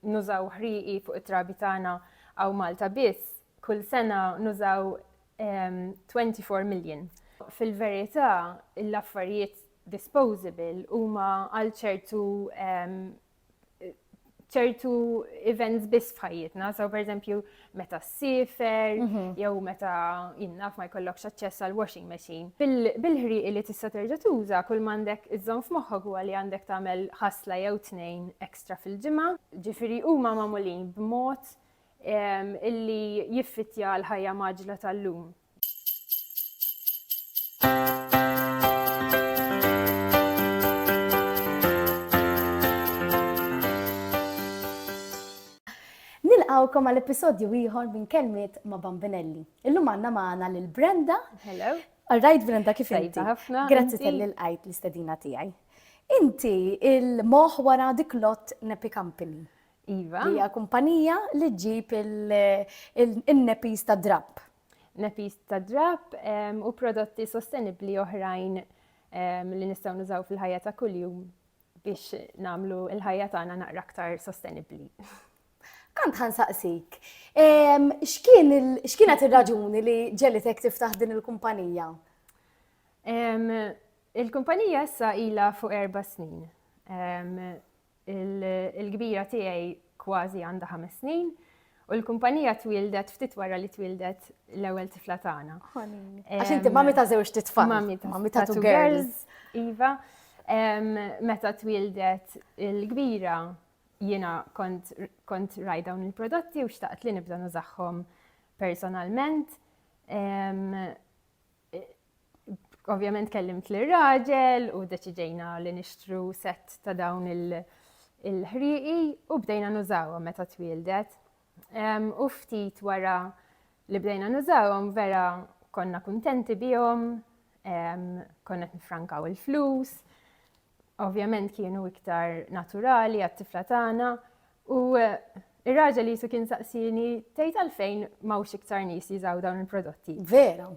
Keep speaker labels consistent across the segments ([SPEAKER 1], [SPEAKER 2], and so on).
[SPEAKER 1] nużaw ħriqi fuq it-trabi tagħna għaw Malta biss, kull sena nużaw 24 million. Fil-verità, l-affarijiet disposable huma għal ċertu ċertu events biss f'ħajjitna, so per eżempju meta s-sifer, mhm. jew meta jinnaf ma jkollokx aċċess għal washing machine. Bil-ħriqi li tista' terġa' tuża, kull m'għandek iżżomm f'moħħok huwa li għandek tagħmel ħasla jew tnejn ekstra fil-ġimgħa. Ġifieri huma magħmulin b'mod illi jiffittja l-ħajja maġla tal-lum.
[SPEAKER 2] Nilqawkom għal episodju ieħor minn kelmiet ma' Bambinelli. Illum għandna magħna lil Brenda. Hello. All
[SPEAKER 1] right, Brenda, kif
[SPEAKER 2] inti? ħafna. Grazzi tal-li
[SPEAKER 1] l-qajt
[SPEAKER 2] l-istedina tiegħi. Inti il-moħ wara dik lot Nepi Company. Iva. Hija
[SPEAKER 1] kumpanija
[SPEAKER 2] li ġġib il-nepis ta' drapp. Nepis ta'
[SPEAKER 1] drapp u prodotti sostenibbli oħrajn li nistgħu nużaw fil-ħajja ta' kuljum biex nagħmlu l-ħajja tagħna naqra aktar sostenibbli. Kant
[SPEAKER 2] ħan saqsik, x'kienet ir-raġuni li ġelitek tiftaħ din il-kumpanija?
[SPEAKER 1] Il-kumpanija issa ila fuq erba' snin. Il-kbira tiegħi kważi għandha ħames snin U l-kumpanija twildet ftit wara li twildet l-ewwel tifla tagħna. Għax inti
[SPEAKER 2] mami ta' żewġ titfal. Mami ta' two
[SPEAKER 1] girls. Iva, meta twildet il-kbira jiena kont raj dawn il-prodotti u xtaqt li nibda nużaħħom personalment. Ovvjament kellimt lir raġel u deċiġejna li nixtru set ta' dawn il-ħriqi u bdejna nużawhom meta twieldet. U ftit wara li bdejna nużawhom vera konna kuntenti bihom, konna nifrankaw il-flus, Ovvjament kienu iktar naturali għat-tifla tagħna u Ir-raġel jisu kien saqsini tgħid għalfejn m'hawnx iktar nies jiżaw dawn il-prodotti. Vera.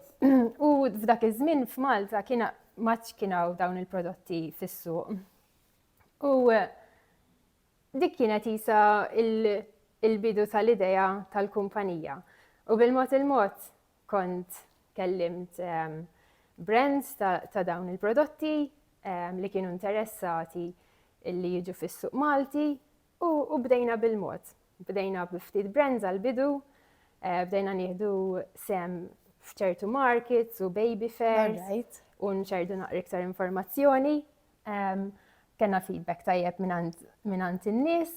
[SPEAKER 2] U
[SPEAKER 1] f'dak iż-żmien f'Malta kien maċ kien hawn dawn il-prodotti fis-suq. U eh, dik kienet isa il-bidu tal-idea tal-kumpanija. U bil-mod il-mod Kont kellimt brands ta' dawn il-prodotti li kienu interessati li jiġu fis-suq Malti u bdejna bil-mod. Bdejna bi ftit brands għall-bidu, bdejna nieħdu sehem f'ċertu markets u baby fairs u nxerrdu naqra iktar informazzjoni. Kellna feedback tajjeb mingħand in-nies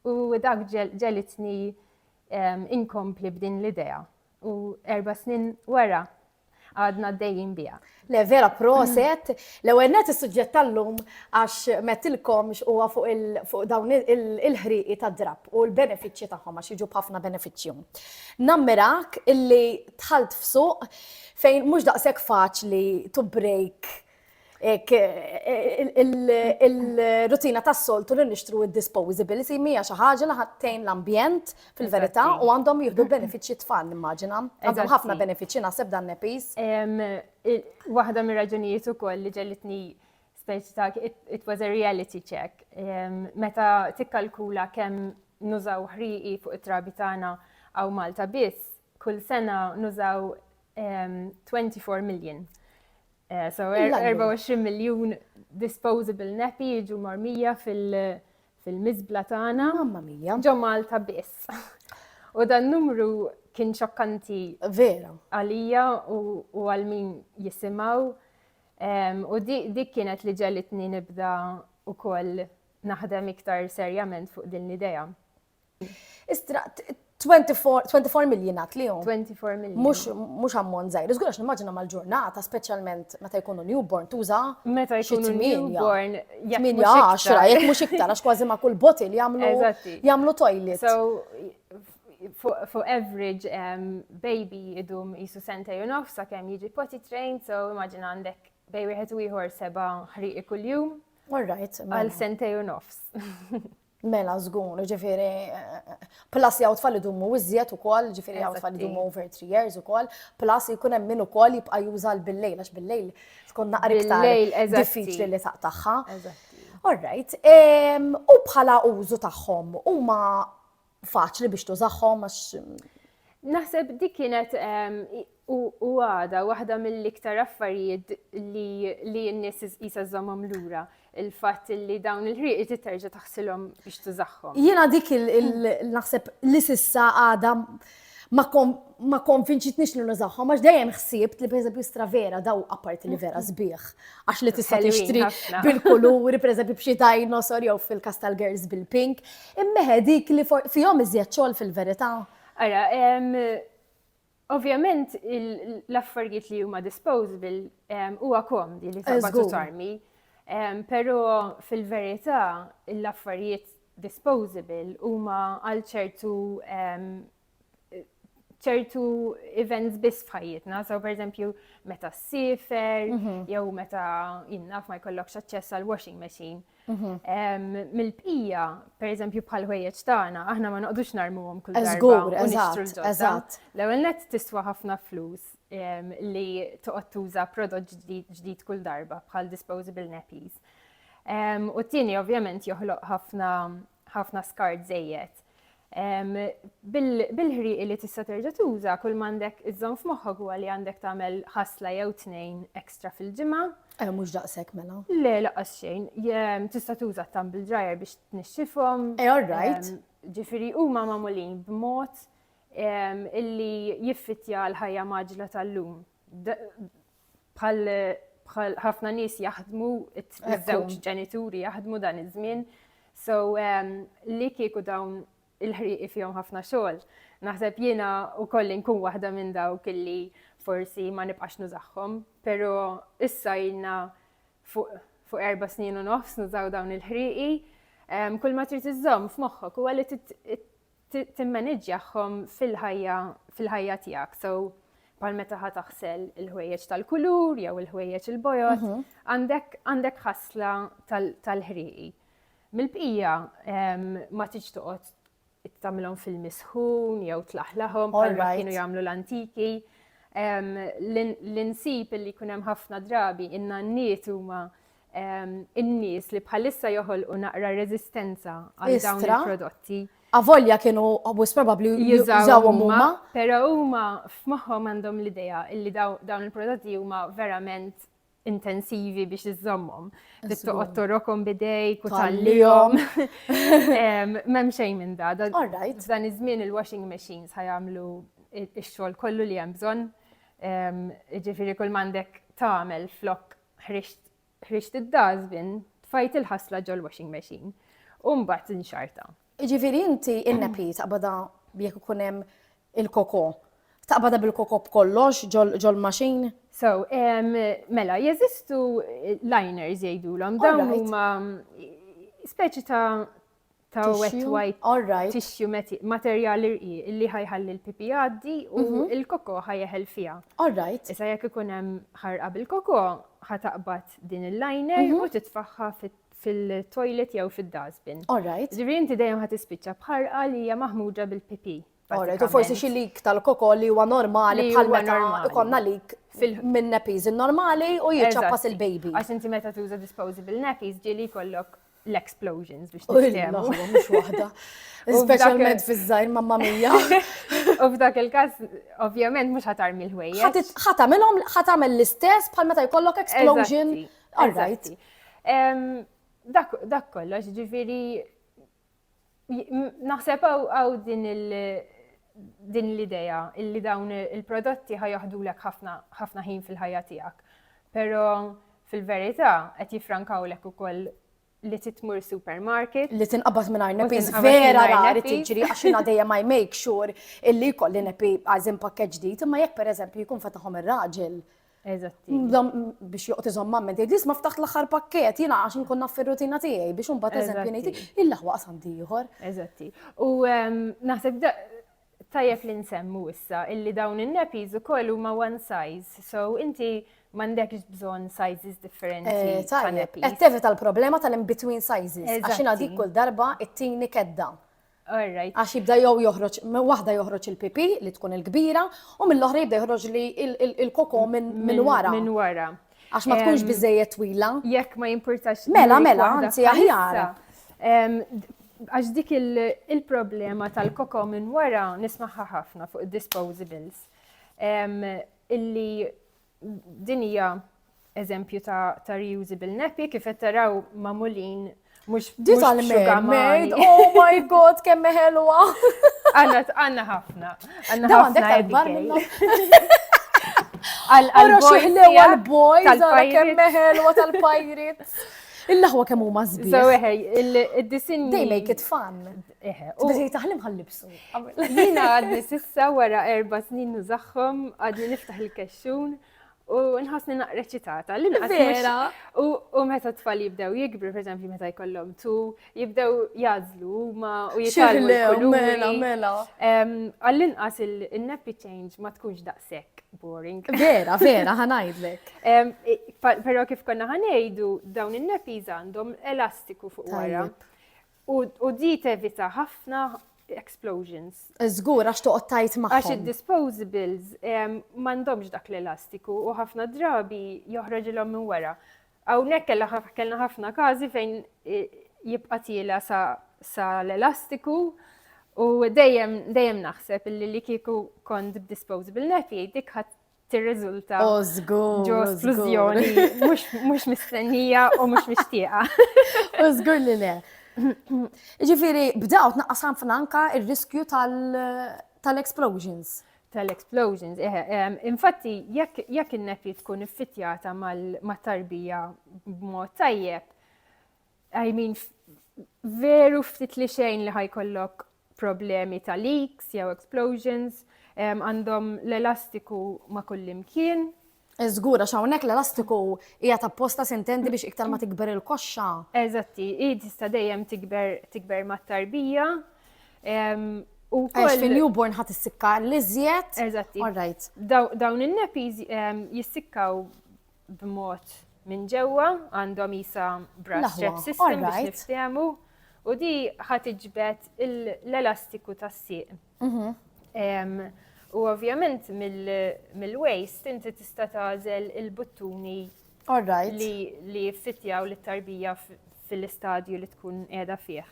[SPEAKER 1] u dak ġegħlitni inkompli b'din l-idea U erba' snin wara għadna għaddejjin biha. Le vera
[SPEAKER 2] proset, l-ewwel net is-suġġett tal-lum għax mettilkom huwa fuq dawn il-ħrieqi ta' drab u l-benefiċċji tagħhom għax jiġu b'ħafna benefiċċju. Nammirak illi tħalt f'suq fejn mhux daqshekk faċli to break il-rutina tas-soltu li nixtru id-disposability mija xi ħaġa li ħattejn l-ambjent fil-verità u għandhom jieħdu benefiċċji tfal nimmaġina. Għandhom ħafna benefiċċji naħseb dan nepis.
[SPEAKER 1] Waħda mir-raġunijiet ukoll li ġellitni speċi ta' it was a reality check. Meta tikkalkula kemm nużaw ħriqi fuq it-trabi tagħna għaw Malta biss, Kull sena nużaw 24 ehm, million. Eh, so 24 er- miljun disposable nappy jiġu marmija fil-mizbla tagħna. Mamma mija. Ġo
[SPEAKER 2] Malta biss.
[SPEAKER 1] U dan numru kien xokkanti. Vera.
[SPEAKER 2] Għalija
[SPEAKER 1] u għal min jisimaw. Ehm, u dik kienet li ġelitni nibda u koll naħdem iktar serjament fuq din l-ideja.
[SPEAKER 2] Istra, 24 million għat li jom. 24 million. Mux,
[SPEAKER 1] mux ammont
[SPEAKER 2] zaħir. Zgur għax nimmaġina mal-ġurnata, specialment meta jkunu newborn, tuża. Meta jkunu
[SPEAKER 1] newborn, jek mux
[SPEAKER 2] iktar. Jek mux iktar, għax kważi ma kull botil jamlu, jamlu toilet. So,
[SPEAKER 1] for average um, baby idum jisu sentej u nofsa kem jiġi potty train, so immaġina għandek bej wieħed u ieħor seba' ħriqi kuljum. All right. Għal
[SPEAKER 2] mela. sentej u
[SPEAKER 1] nofs. Mela
[SPEAKER 2] żgur, ġifiri, plus jgħu tfal idumu iżjed ukoll, ġifiri jgħu tfal idumu over 3 years ukoll, plus jkun hemm min ukoll jibqa' juża bil-lejl għax bil-lejl tkun naqra iktar diffiċli li taqtagħha. Alright, u bħala użu tagħhom huma faċli biex tużahom għax Naħseb
[SPEAKER 1] dik kienet u għada waħda mill-iktar affarijiet li n-nies jisa żommhom lura il-fatt li dawn il-ħrieq irid terġa' taħsilhom biex tużaħħom. Jiena dik
[SPEAKER 2] il-naħseb li sissa għada ma konvinċitnix li nużaħħom, għax dejjem ħsibt li pereżempju stravera daw apparti li vera sbieħ, għax li tista' tixtri
[SPEAKER 1] bil-kuluri, pereżempju
[SPEAKER 2] b'xi dinosaur jew fil-kas tal-girls bil-pink, Immeħe dik li fihom iżjed xogħol fil-verità? Ara,
[SPEAKER 1] ovvjament l-affarijiet li huma disposable huwa komdi li taqbad u tarmi. Però fil-verità l-affarijiet disposable huma għal ċertu ċertu events biss f'ħajjitna, so per eżempju meta s-sifer, mhm. jew meta jinnaf ma jkollokx aċċess għal washing machine. Mhm. Mil-pija, per eżempju bħal ħwejjeġ tagħna, aħna ma noqdux narmuhom kull darba. Eżatt,
[SPEAKER 2] eżatt. L-ewwel
[SPEAKER 1] net
[SPEAKER 2] tiswa
[SPEAKER 1] ħafna flus li toqgħod tuża prodott ġdid kull darba bħal disposable nappies. U t-tieni ovvjament joħloq ħafna ħafna skart żejjed. Bil-ħrieqi li tista' terġa' tuża, kull m'għandek iżżomm f'moħħok huwa li għandek tagħmel ħasla jew tnejn extra fil-ġimgħa. Eh, mhux daqshekk
[SPEAKER 2] mela. Le, lanqas xejn.
[SPEAKER 1] Tista' tuża t-tumble dryer biex tnixxifhom. Eh, all right.
[SPEAKER 2] Ġifieri huma
[SPEAKER 1] magħmulin b'mod illi jiffittja l-ħajja mgħaġġla tal-lum. bħal bħal ħafna nies jaħdmu, iż-żewġ ġenituri jaħdmu dan iż-żmien. So ehm, li kieku dawn il-ħriqi fihom ħafna xogħol. Naħseb jiena wkoll inkun waħda minn dawk illi forsi ma nibqax nużaħħom, però issa jilna fuq erba' snin u nofs nużaw dawn il-ħriqi. Ehm, kull ma trid iżżomm f'moħħok huwa li timmaniġġjahom fil-ħajja fil-ħajja tiegħek. So bħal meta ħa taħsel il-ħwejjeġ tal-kulur jew il-ħwejjeġ il-bojod, mhm. għandek għandek ħasla tal-ħriqi. Mill-bqija ma tiġ toqgħod tagħmilhom fil-misħun jew tlaħlaħhom bħalma kienu jagħmlu l-antiki. L-insib li jkun hemm ħafna drabi in-nanniet huma in-nies li bħalissa joħolqu naqra reżistenza għal dawn il-prodotti. Avolja kienu
[SPEAKER 2] għabus probabli jużawhom huma. Però huma
[SPEAKER 1] f'moħħhom għandhom l-idea illi dawn il-prodotti huma verament intensivi biex iżommhom. Li toqgħod torokom bidej, kutallihom. M'hemm xejn minn da. Dan iż-żmien il-washing machines ħajamlu x-xogħol kollu li hemm bżonn. Ġifieri kull m'għandek tagħmel flok Ħriġt id-dustbin, tfajt il-ħasla ġol-washing machine u mbagħad inxarrtha. Jiġifieri inti
[SPEAKER 2] in-nappy taqbadha jekk ikun hemm il-koko, taqbadha bil-koko b'kollox ġol-machine? So,
[SPEAKER 1] mela, jeżistu liners jgħidulhom, dawn huma speċi ta' ta' wet white alright. tissue meti- materjal irqi illi ħajħalli l-pipi jgħaddi u Mhm. l-koko ħajeħel fiha. Alright. Issa jekk ikun hemm ħarqa bil-koko, ħataqbad din il-liner Mhm. u titfaħħa fit- fil-toilet jew fid-dustbin. Alright. Ġifieri inti dejjem ħatispiċċa b'ħarqa li hija maħmuġa bil-pipi. Alright, u forsi xi
[SPEAKER 2] lik tal-kokol li huwa normali bħal meta ikonna lik minn nappies normali u jiċċappas il-baby. Għax inti meta tuża
[SPEAKER 1] disposable nappies ġieli jkollok l-explosions biex tiftehmu. Mhux waħda.
[SPEAKER 2] Speċjalment fiż-żgħir mamma mija. U f'dak
[SPEAKER 1] il-każ ovvjament mhux ħatar mill-ħwejja. Ħatamilhom ħatamel
[SPEAKER 2] l-istess bħal meta jkollok explosion. Alright.
[SPEAKER 1] Dak kollox ġifieri Naħseb għaw din il- din l-idea illi dawn il-prodotti ħajaħdulek ħafna ħin fil-ħajja tiegħek. Però fil-verità qed jifrankawlek ukoll li titmur supermarket. Li tinqabad minn arnepi,
[SPEAKER 2] vera rari tiġri għax jina dejjem ma make sure illi kolli nepi għazin pakkeġ ġdid, imma jekk per eżempju jkun fataħom ir-raġel
[SPEAKER 1] Eżatti. Biex joqt
[SPEAKER 2] iżom mamma, tgħid li ma ftaħt l-aħħar pakket, jiena għax nkun naf fir-rutina tiegħi biex imbagħad eżempju ngħid il-laħwa qasam ieħor. Eżatti. U
[SPEAKER 1] ehm, naħseb tajjeb li nsemmu issa illi dawn in-nepis ukoll huma one size. So inti mandekx bżon sizes differenti. Eh, Tajjeb, tevita l-problema
[SPEAKER 2] tal-in-between sizes. Għaxina dik kull darba it-tini kedda. All right. Għax jibda jew joħroġ, minn waħda joħroġ il-pipi li tkun il-kbira, u mill-oħra jibda joħroġ li il-koko minn
[SPEAKER 1] wara.
[SPEAKER 2] Minn wara. Għax ma tkunx biżejjed twila. Jekk ma jimpurtax.
[SPEAKER 1] Mela, mela, anzi
[SPEAKER 2] aħjar.
[SPEAKER 1] Għax dik il-problema tal-koko minn wara nismaħħa ħafna fuq disposables. Illi Din hija eżempju ta' reusable nappy kif qed taraw magħmulin mhux Dit għal mermaid,
[SPEAKER 2] oh my god, kemm ħelwa! Għanna għanna
[SPEAKER 1] ħafna. Għanna ħafna
[SPEAKER 2] akbar minna. Għal-boys,
[SPEAKER 1] għal-kemm
[SPEAKER 2] meħelwa tal-pajrit. Il-laħwa kemm huma żbieħ. So eħe,
[SPEAKER 1] il-disinji. They make it
[SPEAKER 2] fun. Biżi taħlim ħallibsu. Jina għadni
[SPEAKER 1] sissa wara erba snin nużaxħom, għadni niftaħ il-kexxun u nħasni naqra ċitata. Vera.
[SPEAKER 2] U meta
[SPEAKER 1] tfal jibdew jikbru, per eżempju, meta jkollhom tu, jibdew jazlu ma u jitalmu. Mela, mela.
[SPEAKER 2] Għall-inqas
[SPEAKER 1] il-nappy change ma tkunx daqshekk boring. Vera, vera,
[SPEAKER 2] ħanajdlek.
[SPEAKER 1] Pero kif konna ħanejdu, dawn il-nappies għandhom elastiku fuq wara. U di tevita ħafna explosions. Żgur għax
[SPEAKER 2] toqgħod tajt magħhom. Għax id-disposables
[SPEAKER 1] m'għandhomx dak l-elastiku u ħafna drabi joħroġilhom minn wara. Hawnhekk kellna ħafna każi fejn jibqa' tiela sa l-elastiku u dejjem dejjem naħseb li li kieku kont b'disposable nappy dik tirriżulta oh, ġo splużjoni mhux mistennija u mhux mixtieqa. U żgur
[SPEAKER 2] li le. Ġifieri bdew tnaqqas ħafna anka r-riskju tal-explosions. Tal-explosions, eh,
[SPEAKER 1] eh, infatti jekk in-nepi tkun iffittjata mal-tarbija b'mod tajjeb, I mean, veru ftit li xejn li ħajkollok problemi ta' leaks jew explosions, għandhom l-elastiku ma' kullimkien. Żgur, għax
[SPEAKER 2] hawnhekk l-elastiku hija tapposta sintendi biex iktar ma tikber il-koxxa. Eżatti, hi
[SPEAKER 1] tista' dejjem tikber tikber mat-tarbija.
[SPEAKER 2] Għax fin-newborn ħadd issikka l-iżjed. Eżatti. All right. Dawn in-nappies
[SPEAKER 1] jissikkaw b'mod minn ġewwa għandhom isa brass strap system biex niftehmu u di ħat iġbed l-elastiku tas-sieq. Mhm. U ovvjament mill-waist inti tista' tażel il-buttuni li jiffitjaw l tarbija fil-istadju li tkun qiegħda fih.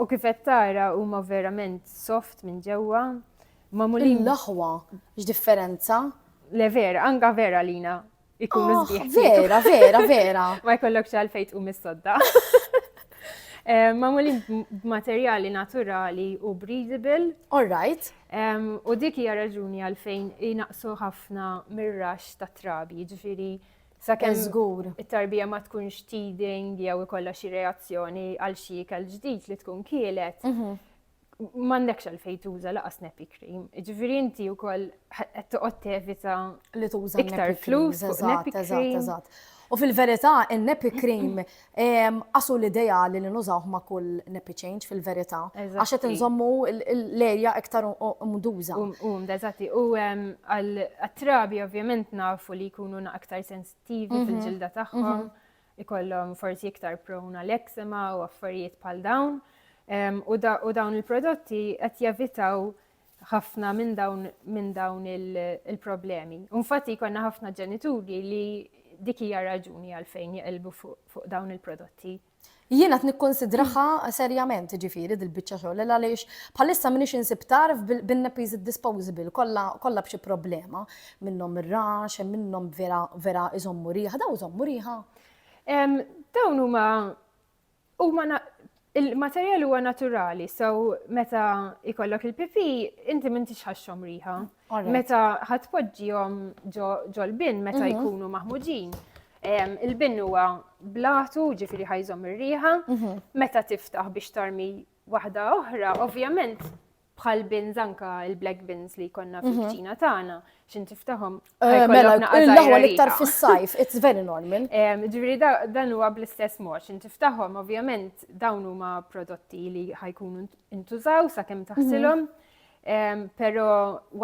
[SPEAKER 1] U kif qed tara huma verament soft minn ġewwa magħmulin.
[SPEAKER 2] L-aħwa, x'differenza? Le vera,
[SPEAKER 1] anka vera għalina ikunu ah, sbieħ. Vera, vera, vera.
[SPEAKER 2] Ma jkollokx għalfejn
[SPEAKER 1] tqum is-sodda. Eh, magħmulin b'materjali naturali u breathable. All right.
[SPEAKER 2] U dik
[SPEAKER 1] hija raġuni għalfejn jinaqsu ħafna mir-rax ta' trabi, ġifieri sakemm żgur it-tarbija ma tkunx teething jew ikollha xi reazzjoni għal xi ikel ġdid li tkun kielet. Mhm. m'għandekx għalfejn tuża laqas nappy cream. Ġifieri inti wkoll qed toqgħod tevita li tuża iktar
[SPEAKER 2] flus fuq
[SPEAKER 1] nappy cream. U fil-verità,
[SPEAKER 2] il-nappy cream qasu l-idea li nużawh ma' kull nappy change fil-verità. Għax qed nżommu l-erja iktar mduża. U mdeżati. U
[SPEAKER 1] għal-trabi ovvjament nafu li jkunu aktar sensittivi fil-ġilda tagħhom. ikollhom forsi iktar prone għal eczema u affarijiet bħal dawn. U dawn il-prodotti qed jevitaw ħafna minn dawn minn dawn il-problemi. Infatti jkollna ħafna ġenituri li dik hija raġuni għalfejn jeqilbu fuq dawn il-prodotti. Jiena qed
[SPEAKER 2] nikkonsidraha serjament ġifieri dil-biċċa xogħol għaliex bħalissa m'iniex insib tarf bin-nepis disposable kollha b'xi problema. minnhom ir-rax, hemm minnhom vera vera iżommu riħa, daw iżommu riħa?
[SPEAKER 1] Dawn huma huma il-materjal huwa naturali, so meta ikollok il-pipi, inti m'intix ħaxxhom riħa. Meta ħadd poġġihom ġol-bin meta mhm. jkunu maħmuġin. Il-bin huwa blatu, ġifieri ħajżhom ir-riħa, mhm. meta tiftaħ biex tarmi waħda oħra, ovvjament bħal bins anka il-black bins li konna mhm. fil-ċina tagħna, xin tiftaħom. Eh, mela,
[SPEAKER 2] l-ewwel iktar fis-sajf, it's very normal. Ġifieri
[SPEAKER 1] dan huwa bl-istess mod, xin tiftaħom ovvjament dawn huma prodotti li ħajkunu intużaw sakemm mhm. taħsilhom, però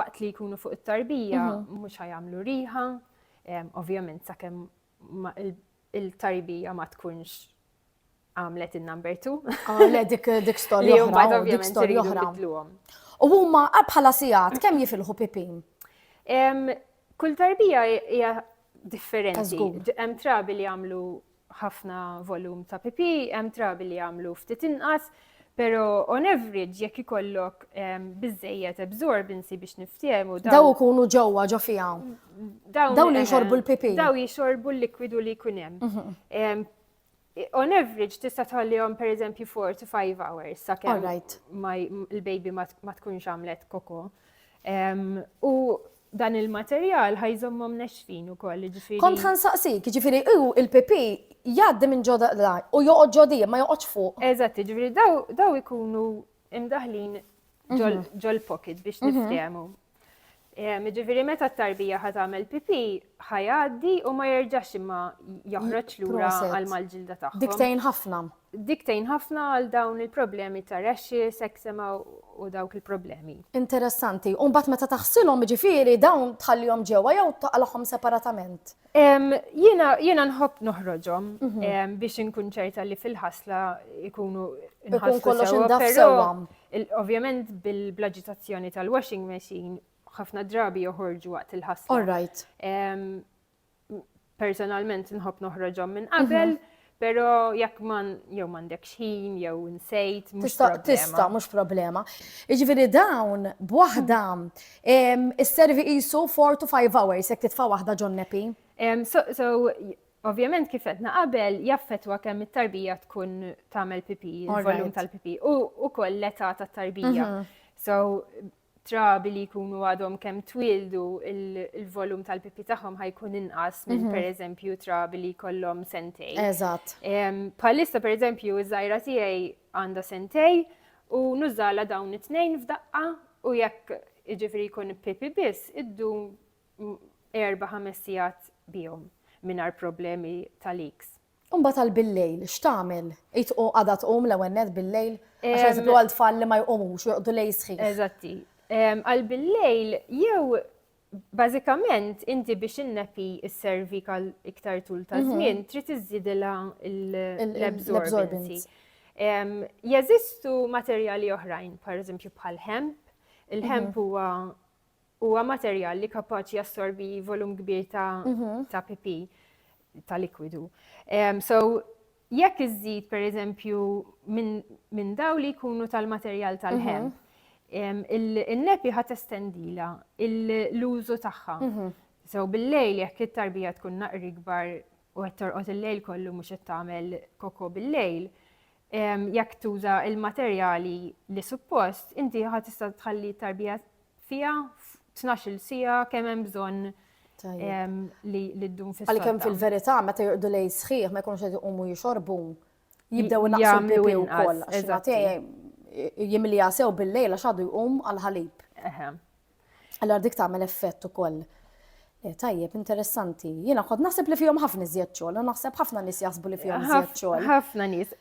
[SPEAKER 1] waqt li jkunu fuq it-tarbija mhm. mhux ħajamlu riħa, ovvjament sakemm il-taribija ma tkunx għamlet il-number two. Ah, le, dik dik storja
[SPEAKER 2] Li jumbat oħra, dik ovvjament storja iridu oħra. nbidluhom. U huma ah, bħala sigħat kemm jifilħu
[SPEAKER 1] pipin? Em,
[SPEAKER 2] Kull tarbija
[SPEAKER 1] hija differenti. Tażgur. D- Hemm
[SPEAKER 2] trabi li jagħmlu
[SPEAKER 1] ħafna volum ta' pipi, hemm trabi li jagħmlu ftit inqas, Pero on average jekk ikollok biżejjed absorbency biex niftehmu daw. Daw ikunu ġewwa
[SPEAKER 2] ġo fiha. Daw li jxorbu l-pipi. Daw jxorbu
[SPEAKER 1] l-likwidu li jkun hemm. Mhm. On average tista' tħallihom pereżempju 4 to 5 hours sakemm
[SPEAKER 2] l-baby
[SPEAKER 1] ma tkunx għamlet koko. U dan il-materjal ħajżommhom nexfin ukoll, ġifieri. Kont ħansaqsik,
[SPEAKER 2] ġifieri hu il-PP jgħaddi minn ġoda u joqgħod ġodi, ma joqgħodx fuq. Eżatt, ġifieri
[SPEAKER 1] daw ikunu imdaħlin ġol-pocket biex niftehmu. Ġifieri meta t-tarbija ħa tagħmel pipì, ħa jgħaddi u ma jerġax imma joħroġ lura għal mal-ġilda tagħhom. Dik tgħin ħafna.
[SPEAKER 2] Dik tgħin ħafna
[SPEAKER 1] għal dawn il-problemi ta' rashes, eczema u dawk il-problemi. Interessanti. U
[SPEAKER 2] mbagħad meta taħsilhom ġifieri dawn tħallihom ġewwa jew taqalhom separatament. Jiena
[SPEAKER 1] jiena nħobb noħroġhom mhm. biex inkun ċerta li fil-ħasla ikunu nħassu kollox
[SPEAKER 2] indaf sewwa.
[SPEAKER 1] Ovvjament bil-blaġitazzjoni tal-washing machine ħafna drabi joħorġu waqt il-ħasra. All right. Personalment nħobb noħroġhom minn qabel, mhm. Pero jekk man jew m'għandekx ħin jew nsejt tista' tista' mhux problema.
[SPEAKER 2] Jiġifieri dawn b'waħda isservi qisu 4 to 5 hours jekk titfa' waħda ġon nepi. So, so
[SPEAKER 1] Ovvjament kif qed qabel jaffetwa kemm it-tarbija tkun tagħmel pipi, il-volum tal-pipi u wkoll l-età tat-tarbija. Mhm. So trabi li jkunu għadhom kemm twildu il-volum tal-pipi tagħhom ħajkun inqas minn mhm. pereżempju trabi li kollhom sentej. Eżatt.
[SPEAKER 2] Palissa
[SPEAKER 1] pereżempju iż-żajra tiegħi għandha sentej u nużala dawn it-tnejn f'daqqa u jekk iġifri jkun pipi biss iddu erba' ħames sigħat bihom mingħajr problemi tal-iks. U mbagħad għal bil-lejl
[SPEAKER 2] x'tagħmel? Id u għadha tqum l-ewwel nett bil-lejl? Għax eżempju għal tfal li ma jqumux, joqogħdu lejl sħiħ. Eżatti.
[SPEAKER 1] Għal bil-lejl jew bażikament inti biex innepi s-servik għal iktar tul ta' żmien mhm. trid iżżidilha l-absorbency. Jeżistu materjali oħrajn, per eżempju bħal hemp. Il-hemp mhm. huwa Huwa materjal li kapaċi jassorbi volum kbir ta', ta pipi, ta' likwidu. Um, so, jekk iżżid per eżempju minn min daw li jkunu tal-materjal tal-ħemp, um, il-nepi ħat estendila l-użu tagħha. So, bil-lejl jekk it-tarbija tkun naqri kbar u qed torqod il-lejl kollu mhux qed tagħmel koko bil-lejl, jekk tuża il-materjali li suppost, inti ħad tista' tħalli tarbija fiha f'tnax-il siegħa kemm hemm bżonn li ddum fis Għalkemm fil-verità meta
[SPEAKER 2] joqdu lej sħiħ ma jkunux qed iqumu jixorbu jibdew naqsu pipi wkoll għax jimlija sew bil-lejla x'għadu jqum għal ħalib. Allora dik tagħmel effett ukoll. Eh, tajjeb, interessanti. Jiena kont naħseb li fihom ħafna iżjed xogħol, u naħseb ħafna nies jaħsbu li fihom iżjed xogħol. Ħafna nies.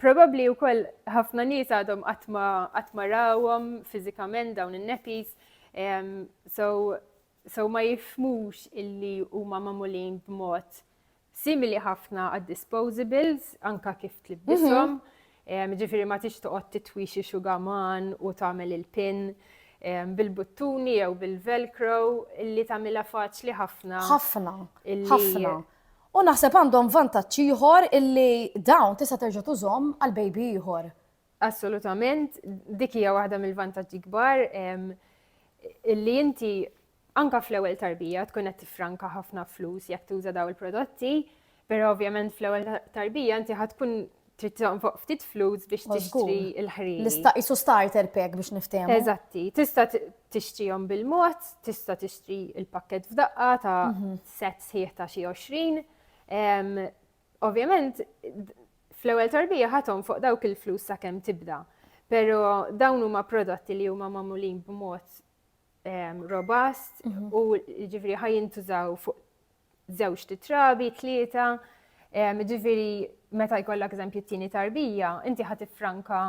[SPEAKER 1] Probabbli wkoll ħafna nies għadhom qatt ma rawhom fiżikament dawn in-nepis. So so ma jifmux illi huma magħmulin b'mod Simili ħafna għad-disposables, anka kif tlibdishom. Mhm. Ġifiri ma tix toqgħod titwixi xugaman u tagħmel il-pin bil-buttuni jew bil-velcro li tagħmilha faċli ħafna. Ħafna. Ħafna.
[SPEAKER 2] U naħseb għandhom vantaġġ ieħor illi dawn tista' terġa' tużhom għal baby ieħor. Assolutament,
[SPEAKER 1] dik hija waħda mill-vantaġġi kbar illi inti Anke fl-ewwel tarbija tkun qed tiffranka ħafna flus jekk tuża dawn il-prodotti, però ovvjament fl-ewwel tarbija inti ħa tkun trid tonfoq ftit flus biex tixtri l-ħriri. L-ista isu starter
[SPEAKER 2] pack biex niftehmu. Eżatti, tista'
[SPEAKER 1] tixtrihom bil-mod, tista' tixtri il-pakket f'daqqa ta' mhm. set sħiħ ta' xi 20. Ovvjament, fl-ewwel tarbija ħathom fuq dawk il-flus sakemm tibda. Pero dawn huma prodotti li huma magħmulin b'mod robust u ġifiri ħaj jintużaw fuq zewġ titrabi, tlieta, ġifiri meta jkollak eżempju t-tieni tarbija, inti ħat franka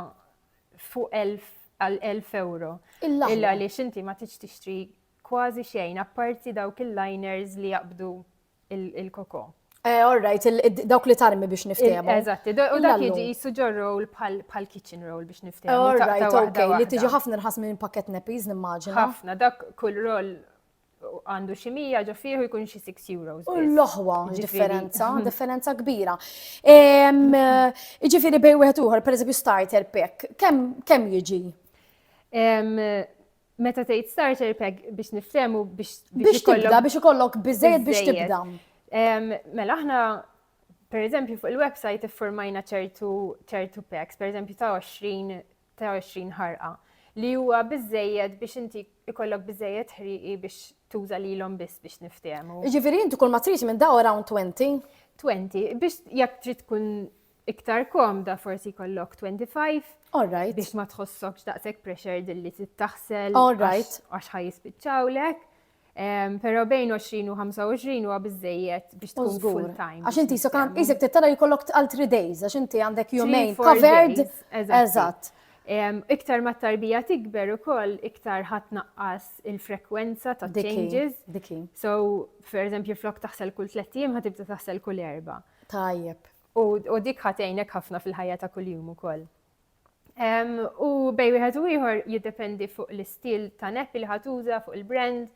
[SPEAKER 1] fuq 1000 għal 1000 euro. Illa li xinti ma tiġ tixtri kważi xejn, apparti dawk il-liners li jaqbdu il-koko. Eh, all right,
[SPEAKER 2] dawk li tarmi biex niftehmu. Eżatt, u dak jiġi
[SPEAKER 1] jissu ġor roll bħal kitchen roll biex niftehmu. All right, ok,
[SPEAKER 2] li tiġi
[SPEAKER 1] ħafna
[SPEAKER 2] nħas minn pakket
[SPEAKER 1] nepiz
[SPEAKER 2] nimmaġina. Ħafna,
[SPEAKER 1] dak
[SPEAKER 2] kull roll
[SPEAKER 1] għandu xi mija ġo fieħu jkun xi 6 euros. U l-oħwa
[SPEAKER 2] differenza,
[SPEAKER 1] differenza kbira.
[SPEAKER 2] Iġifieri bej wieħed uħor, pereżempju starter pack, kemm jiġi?
[SPEAKER 1] Meta tgħid starter pack biex niftehmu biex biex tibda
[SPEAKER 2] biex ikollok biżejjed biex tibda. Mela
[SPEAKER 1] aħna per eżempju fuq il-website iffurmajna ċertu ċertu packs, per eżempju ta' 20 ta' 20 ħarqa li huwa biżejjed biex inti ikollok biżejjed ħriqi biex tuża lilhom biss biex niftehmu. Jiġifieri inti kull ma trid
[SPEAKER 2] minn daw around 20? 20, biex
[SPEAKER 1] jekk trid tkun iktar komda forsi jkollok 25. All right. Biex ma
[SPEAKER 2] tħossokx
[SPEAKER 1] daqshekk pressured li tittaħsel. All right. Għax
[SPEAKER 2] ħaj jispiċċawlek.
[SPEAKER 1] Pero bejn 20 u 25 huwa biżejjed biex tkun full time. Għax inti so kan isek
[SPEAKER 2] tittara jkollok għal 3 days għax inti għandek jumejn covered. Eżatt. Iktar
[SPEAKER 1] ma tarbija tikber ukoll iktar ħadd naqqas il-frekwenza ta' changes. So,
[SPEAKER 2] per
[SPEAKER 1] eżempju, flok taħsel kull tliet ħatibda taħsel kull erba. Tajjeb.
[SPEAKER 2] U, u dik ħa
[SPEAKER 1] tgħinek ħafna fil-ħajja ta' kuljum ukoll. Um, u bej wieħed u ieħor jiddependi fuq l-istil ta' neppi li ħatuża, fuq il-brand.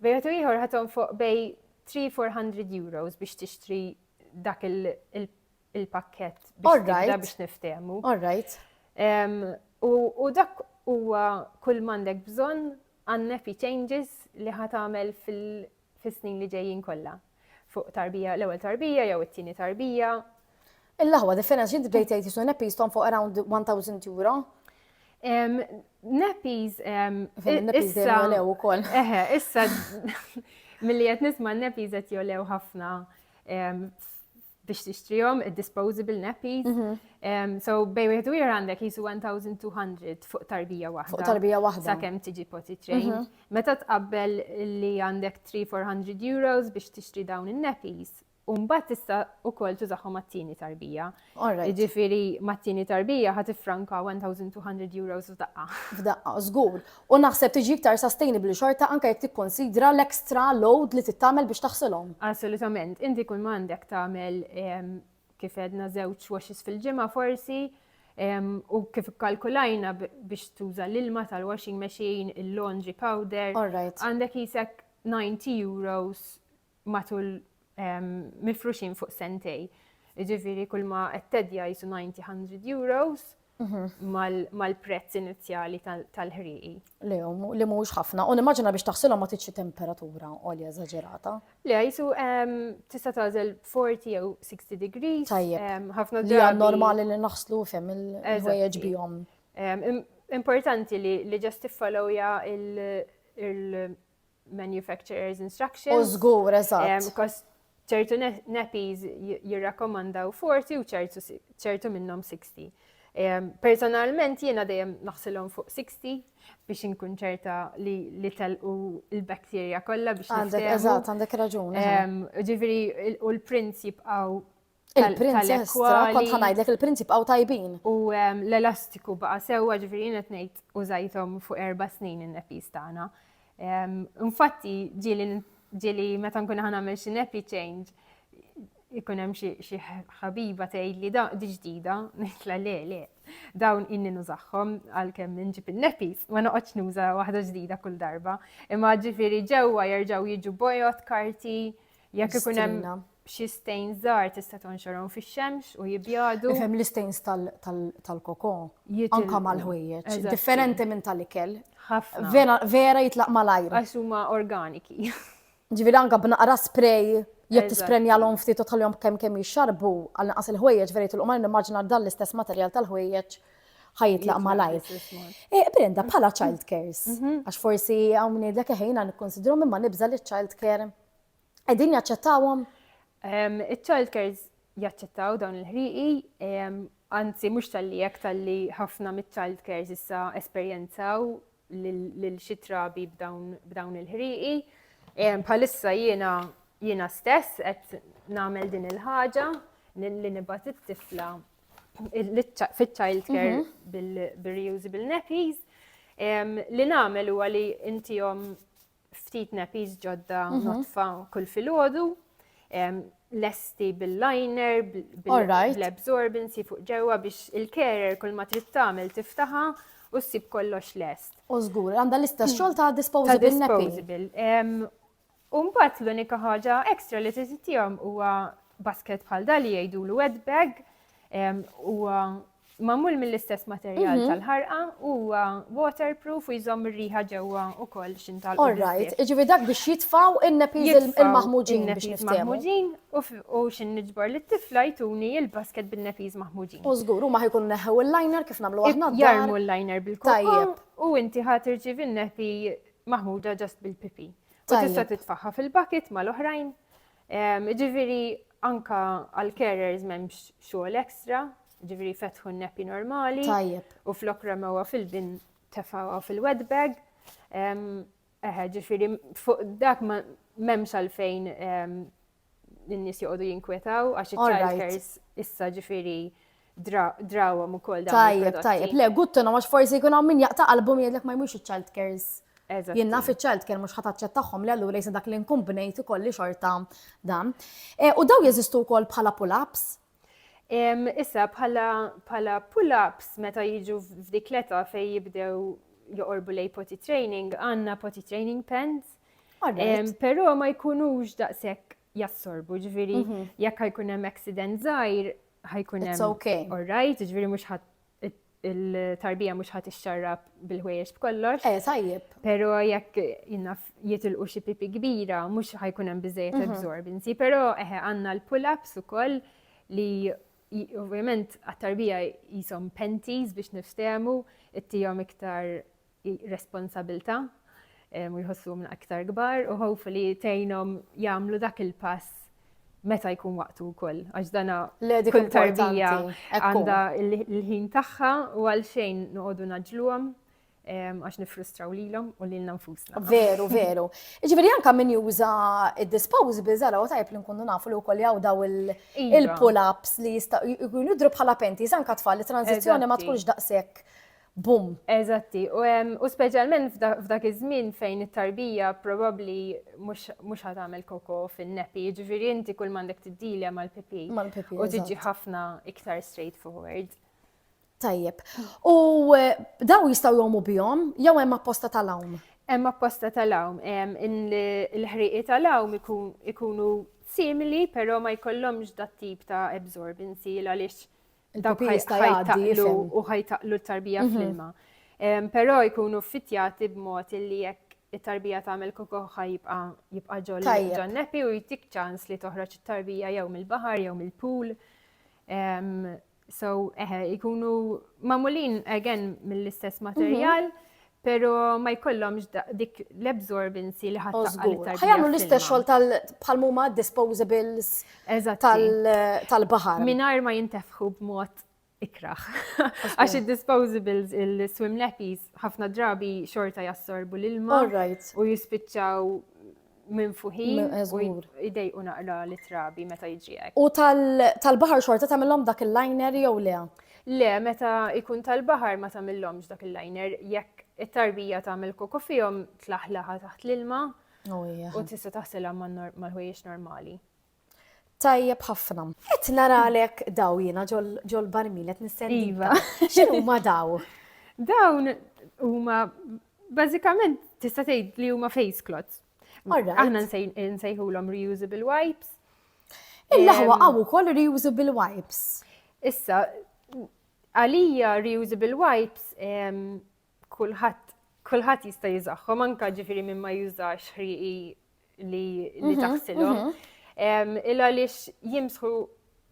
[SPEAKER 1] Bej wieħed u ieħor ħaton fuq bej 3-400 euros biex tixtri dak il-pakket biex tibda biex niftehmu. All right.
[SPEAKER 2] Um, u,
[SPEAKER 1] u dak huwa kull mandek bżonn għan-neppi changes li ħatamel fil-snin li ġejjin kollha. Fuq tarbija, l-ewwel tarbija jew it-tieni tarbija. Il-laħwa
[SPEAKER 2] different xi tbdej tgħid jisu neppies tom fuq around 1000 euro.
[SPEAKER 1] Neppies neppies
[SPEAKER 2] jolew ukoll. Eħe, issa
[SPEAKER 1] milli qed nisma' neppies qed jolew ħafna biex tixtrihom id-disposable nappies. Mhm. So bej wieħed u ieħor għandek jisu 1200 fuq tarbija waħda. Fuq tarbija waħda. Sakemm
[SPEAKER 2] tiġi poti
[SPEAKER 1] train. Mhm. Meta tqabbel li għandek 3-400 euros biex tixtri dawn in-nappies, Umbat tista u kol tużaxu mat-tini tarbija. Ġifiri mat-tini tarbija ħat franka 1200 euros f'daqqa. F'daqqa, zgur.
[SPEAKER 2] U naħseb tiġi iktar sustainable xorta anke jekk tikkonsidra l-extra load li trid tagħmel biex taħsilhom. Assolutament. Inti
[SPEAKER 1] kull ma għandek tagħmel kif għedna żewġ washes fil-ġimgħa forsi u kif ikkalkulajna biex tuża l-ilma tal-washing machine, il-laundry powder, għandek qisek 90 euros matul mifruxin fuq sentej. Ġifiri kull ma għettedja jisu 90-100 euros mhm. mal-prezz inizjali tal-ħriqi. Le, li
[SPEAKER 2] mux ħafna. U nimmaġina biex taħsilhom ma tiċi temperatura olja eżaġerata. Le, jisu
[SPEAKER 1] tista' tażel 40 jew 60 degrees. Tajjeb. Ħafna Li
[SPEAKER 2] normali
[SPEAKER 1] li
[SPEAKER 2] naħslu fem il-ħwejjeġ bihom.
[SPEAKER 1] Importanti li ġast tiffolowja il- manufacturer's instructions. U żgur,
[SPEAKER 2] eżatt. ċertu
[SPEAKER 1] nappies jirrakkomandaw 40 u ċertu minnhom 60. Personalment jiena dejjem naħsilhom fuq 60 biex inkun ċerta li li telqu l-bakterja kollha biex Għandek eżatt, għandek raġun.
[SPEAKER 2] Ġifieri
[SPEAKER 1] u l-prints jibqgħu Il-prinċestra,
[SPEAKER 2] kont ħanajdlek il-prinċi bqgħu tajbin. U ehm,
[SPEAKER 1] l-elastiku baqa' sewwa ġifieri qed ngħid użajthom fuq erba' snin in-nepis tagħna. Ehm, infatti ġieli meta nkun ħanagħmel xi nepi change ikun hemm xi ħabiba tgħid li di ġdida, nitla le le, dawn inni nużaħħom għalkemm inġib in-nepis, ma noqgħodx nuża waħda ġdida kull darba. Imma ġifieri ġewwa jerġgħu jiġu bojot, karti, Jekk ikun hemm xi stejn żgħar tista' tonxorhom fix-xemx u jibjadu. Ifhem l-istejns
[SPEAKER 2] tal-koko anka mal-ħwejjeġ, differenti minn tal-ikel. Ħafna.
[SPEAKER 1] Vera jitlaq
[SPEAKER 2] malajr. Għax huma organiki.
[SPEAKER 1] Ġifieri anka
[SPEAKER 2] b'naqra spray jekk tisprenjalhom ftit u tħallihom kemm kemm jixxarbu għal naqas il-ħwejjeġ vera jitlqu malajr nimmaġina dan l-istess materjal tal-ħwejjeġ ħajitlaq malajr. Eh, Brenda, bħala child cares, mhm. għax forsi hawn ngħidlek eħejna nikkonsidru minn ma nibża li child care qegħdin jaċċettawhom?
[SPEAKER 1] Iċ-child cares jaċċettaw dawn il-ħrieqi, anzi mhux tal-li hekk tal-li ħafna miċ-child cares issa esperjenzaw lil xi trabi b'dawn il-ħrieqi. Bħalissa jiena jiena stess qed nagħmel din il-ħaġa li nibgħat it-tifla fit-child care mhm. bil-reusable nappies li nagħmel huwa li intihom ftit nappies ġodda mhm. notfa kull filgħodu, lesti bil-liner, bil-absorbency fuq ġewwa biex il-kerer kull ma trid tagħmel tiftaħa u ssib
[SPEAKER 2] kollox
[SPEAKER 1] lest.
[SPEAKER 2] U żgur, għandha
[SPEAKER 1] l-istess
[SPEAKER 2] hmm. xogħol ta'
[SPEAKER 1] disposable
[SPEAKER 2] disposable.
[SPEAKER 1] U mbagħad l-unika ħaġa ekstra li trid tihom huwa basket bħal dal li jgħidulu wet bag huwa Magħmul mill-istess materjal tal-ħarqa u huwa waterproof u jżomm ir-riħa ġewwa wkoll x'int tal All right, jiġifieri dak
[SPEAKER 2] biex jitfgħu in-nepiż il-maħmuġin biex niftehmu. Maħmuġin
[SPEAKER 1] u x'in niġbor lit-tifla jtuni il-basket bin-nepiż maħmuġin. U żgur huma ħajkun
[SPEAKER 2] neħħew il-liner kif nagħmlu aħna. Jarmu l-liner bil-kokka
[SPEAKER 1] u inti
[SPEAKER 2] ħadd
[SPEAKER 1] irċivi n-nepi maħmuda ġast bil-pipi. U tista' titfaħħa fil-bucket mal-oħrajn Jiġifieri anke għall-carers m'hemmx xogħol ekstra, jiġifieri fetħu n-neppi normali. Tajjeb. U flok
[SPEAKER 2] ramewha
[SPEAKER 1] fil-bin tefgħuha fil-wet bag. Eħe, ġifieri fuq dak m'hemmx għalfejn in-nies joqogħdu jinkwetaw għax iċ-childcares issa ġifieri drawhom ukoll dawn. Tajjeb, tajjeb, le guttu no għax
[SPEAKER 2] forsi jkun hawn min jaqta' qalbu min jgħidlek ma jmux iċ-child cares. Jien naf iċ-child care mhux ħataċċet tagħhom li allura jisa dak li nkun bnejt ikolli xorta dan. E, u daw jeżistu wkoll bħala pull-ups?
[SPEAKER 1] Issa bħala pull-ups meta jiġu f'dik l-età fej jibdew joqorbu lej poti training, għanna poti training pens. Pero ma jkunux daqsek jassorbu, ġviri, jekk ħajkun hemm accident żgħir, ħajkun hemm. It's okay. All right,
[SPEAKER 2] ġviri mhux
[SPEAKER 1] ħadd il-tarbija mhux ħadd ixxarrab bil-ħwejjeġ b'kollox. Eh, tajjeb. Però
[SPEAKER 2] jekk
[SPEAKER 1] jinnaf jitilqu xi pipi kbira, mhux ħajkun hemm biżejjed mhm. absorbinzi, però eħe eh, għandna l-pull-ups ukoll li ovvjament għat-tarbija jisom penties biex niftehmu, ittijom iktar ir-responsabilità u jħossuhom aktar kbar u hopefully tgħinhom jagħmlu dak il-pass meta jkun waqtu wkoll għax dana kull tarbija għandha l-ħin tagħha u għal xejn noqogħdu naġluhom għax nifrustraw lilhom u lilna nfusna. Veru, veru.
[SPEAKER 2] Ġifieri anke min juża id-disposables ara u tajb li nkunu nafu li wkoll jaw daw iva. il-pull-ups li jistgħu jkunu bħala penti, anke tfal li transizzjoni ma tkunx daqshekk Bum! Eżatti,
[SPEAKER 1] u speċjalment f'dak iż-żmien fejn it-tarbija probabbli mhux ħa tagħmel koko fin-nepi, jiġifieri inti kull m'għandek tiddilja mal-pipi. Mal-pipi. U tiġi ħafna iktar straightforward. Tajjeb.
[SPEAKER 2] U eh, daw jistgħu jomu bihom jew hemm apposta tal-hawn? Hemm apposta
[SPEAKER 1] tal-hawn, il-ħriqi tal-hawn ikunu simili, però ma jkollhomx dat tip ta' absorbency għaliex Dawk ħajtaqlu u ħajtaqlu t-tarbija mhm. fl-ilma. Però jkunu fitjati b'mod li jekk it-tarbija tagħmel kokoħħa jibqa' jibqa' ġol ġannepi u jtik ċans li toħroġ it-tarbija jew mill-baħar jew mill-pool. So, eħe, ikunu mamulin again mill-istess mhm. materjal, Pero ma jkollhomx dik l-absorbency li ħadd taqqa' Ħajamlu l-istess xogħol tal
[SPEAKER 2] bħal huma disposables tal-baħar. Mingħajr ma jintefħu
[SPEAKER 1] b'mod ikraħ. Għax id-disposables, il-swim nappies, ħafna drabi xorta jassorbu l-ilma u jispiċċaw minn fuħin u idej u naqra li trabi meta jiġi hekk. U tal-baħar
[SPEAKER 2] xorta tagħmilhom dak il-liner jew le? Le, meta
[SPEAKER 1] ikun tal-baħar ma tagħmilhomx dak il-liner jekk it-tarbija tagħmel koko fihom tlaħlaħa taħt l-ilma oh, u tista' taħsilha mal-ħwejjeġ normali. Tajjeb
[SPEAKER 2] ħafna. Qed naralek daw jiena ġol-barmil qed nistenni. Iva. X'inhuma daw? Dawn
[SPEAKER 1] huma bażikament tista' tgħid li huma face clots. Aħna nsejħulhom reusable wipes. Il-laħwa
[SPEAKER 2] għaw ukoll reusable wipes. Issa,
[SPEAKER 1] għalija reusable wipes kulħadd kulħadd jista' jiżaħħom anka ġifieri minn ma jużax ħrieqi li mhm, taħsilhom. Mhm. Il għaliex jimsħu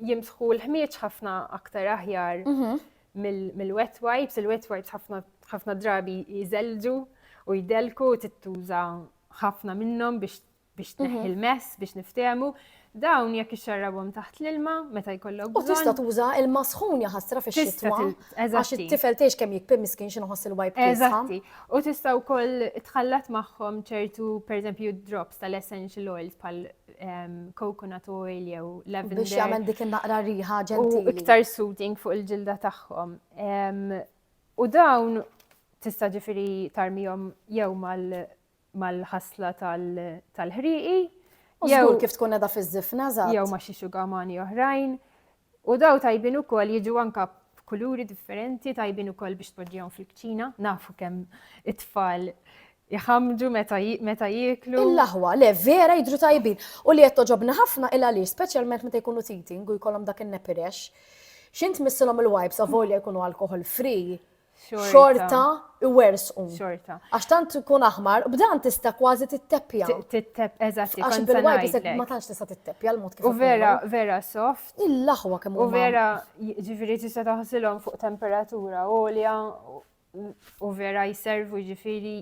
[SPEAKER 1] jimsħu l-ħmieġ ħafna aktar aħjar mhm. mill-wet wipes, il-wet wipes ħafna drabi jizelġu u jdelku tittuża ħafna minnhom biex biex tneħħi l-mess, biex niftehmu, dawn jekk ixxarrabhom taħt l-ilma meta jkollok bżonn. U tista' tuża ilma sħun jaħasra fix-xitwa. Għax it-tifel tgħix kemm jikpim miskin xi nħoss il-wajb Eżatti. U tista' wkoll tħallat magħhom ċertu pereżempju drops tal-essential oils bħal ehm, coconut oil jew lavender. Biex jagħmel dik in-naqra
[SPEAKER 2] riħa ġentili. U iktar soothing
[SPEAKER 1] fuq il-ġilda tagħhom. Ehm, u dawn tista' ġifieri tarmihom jew mal mal-ħasla tal-ħrieqi. U żgur
[SPEAKER 2] kif tkun qiegħda fiż-żifna żgħar. Jew ma' xi xugamani
[SPEAKER 1] oħrajn. U daw tajbin ukoll jiġu anka b'kuluri differenti, tajbin ukoll biex tpoġġihom fil-kċina, nafu kemm it-tfal jħamġu meta jieklu. Il-laħwa, le, vera
[SPEAKER 2] jidru tajbin. U li qed toġobna ħafna il għaliex, speċjalment meta jkunu teething u jkollhom dak in-nepirex. X'int missilhom il-wipes avolja jkunu alcohol free, xorta iwersqu. Xorta. Għax
[SPEAKER 1] tant ikun
[SPEAKER 2] aħmar, b'dan tista' kważi titteppja. Tittepp, eżatt,
[SPEAKER 1] għax bil-wajpis
[SPEAKER 2] ma tantx
[SPEAKER 1] tista'
[SPEAKER 2] titteppja
[SPEAKER 1] l-mod
[SPEAKER 2] kif. U vera, vera soft.
[SPEAKER 1] Il-laħwa kemm U
[SPEAKER 2] vera,
[SPEAKER 1] ġifieri tista' taħsilhom fuq temperatura għolja u vera jservu ġifieri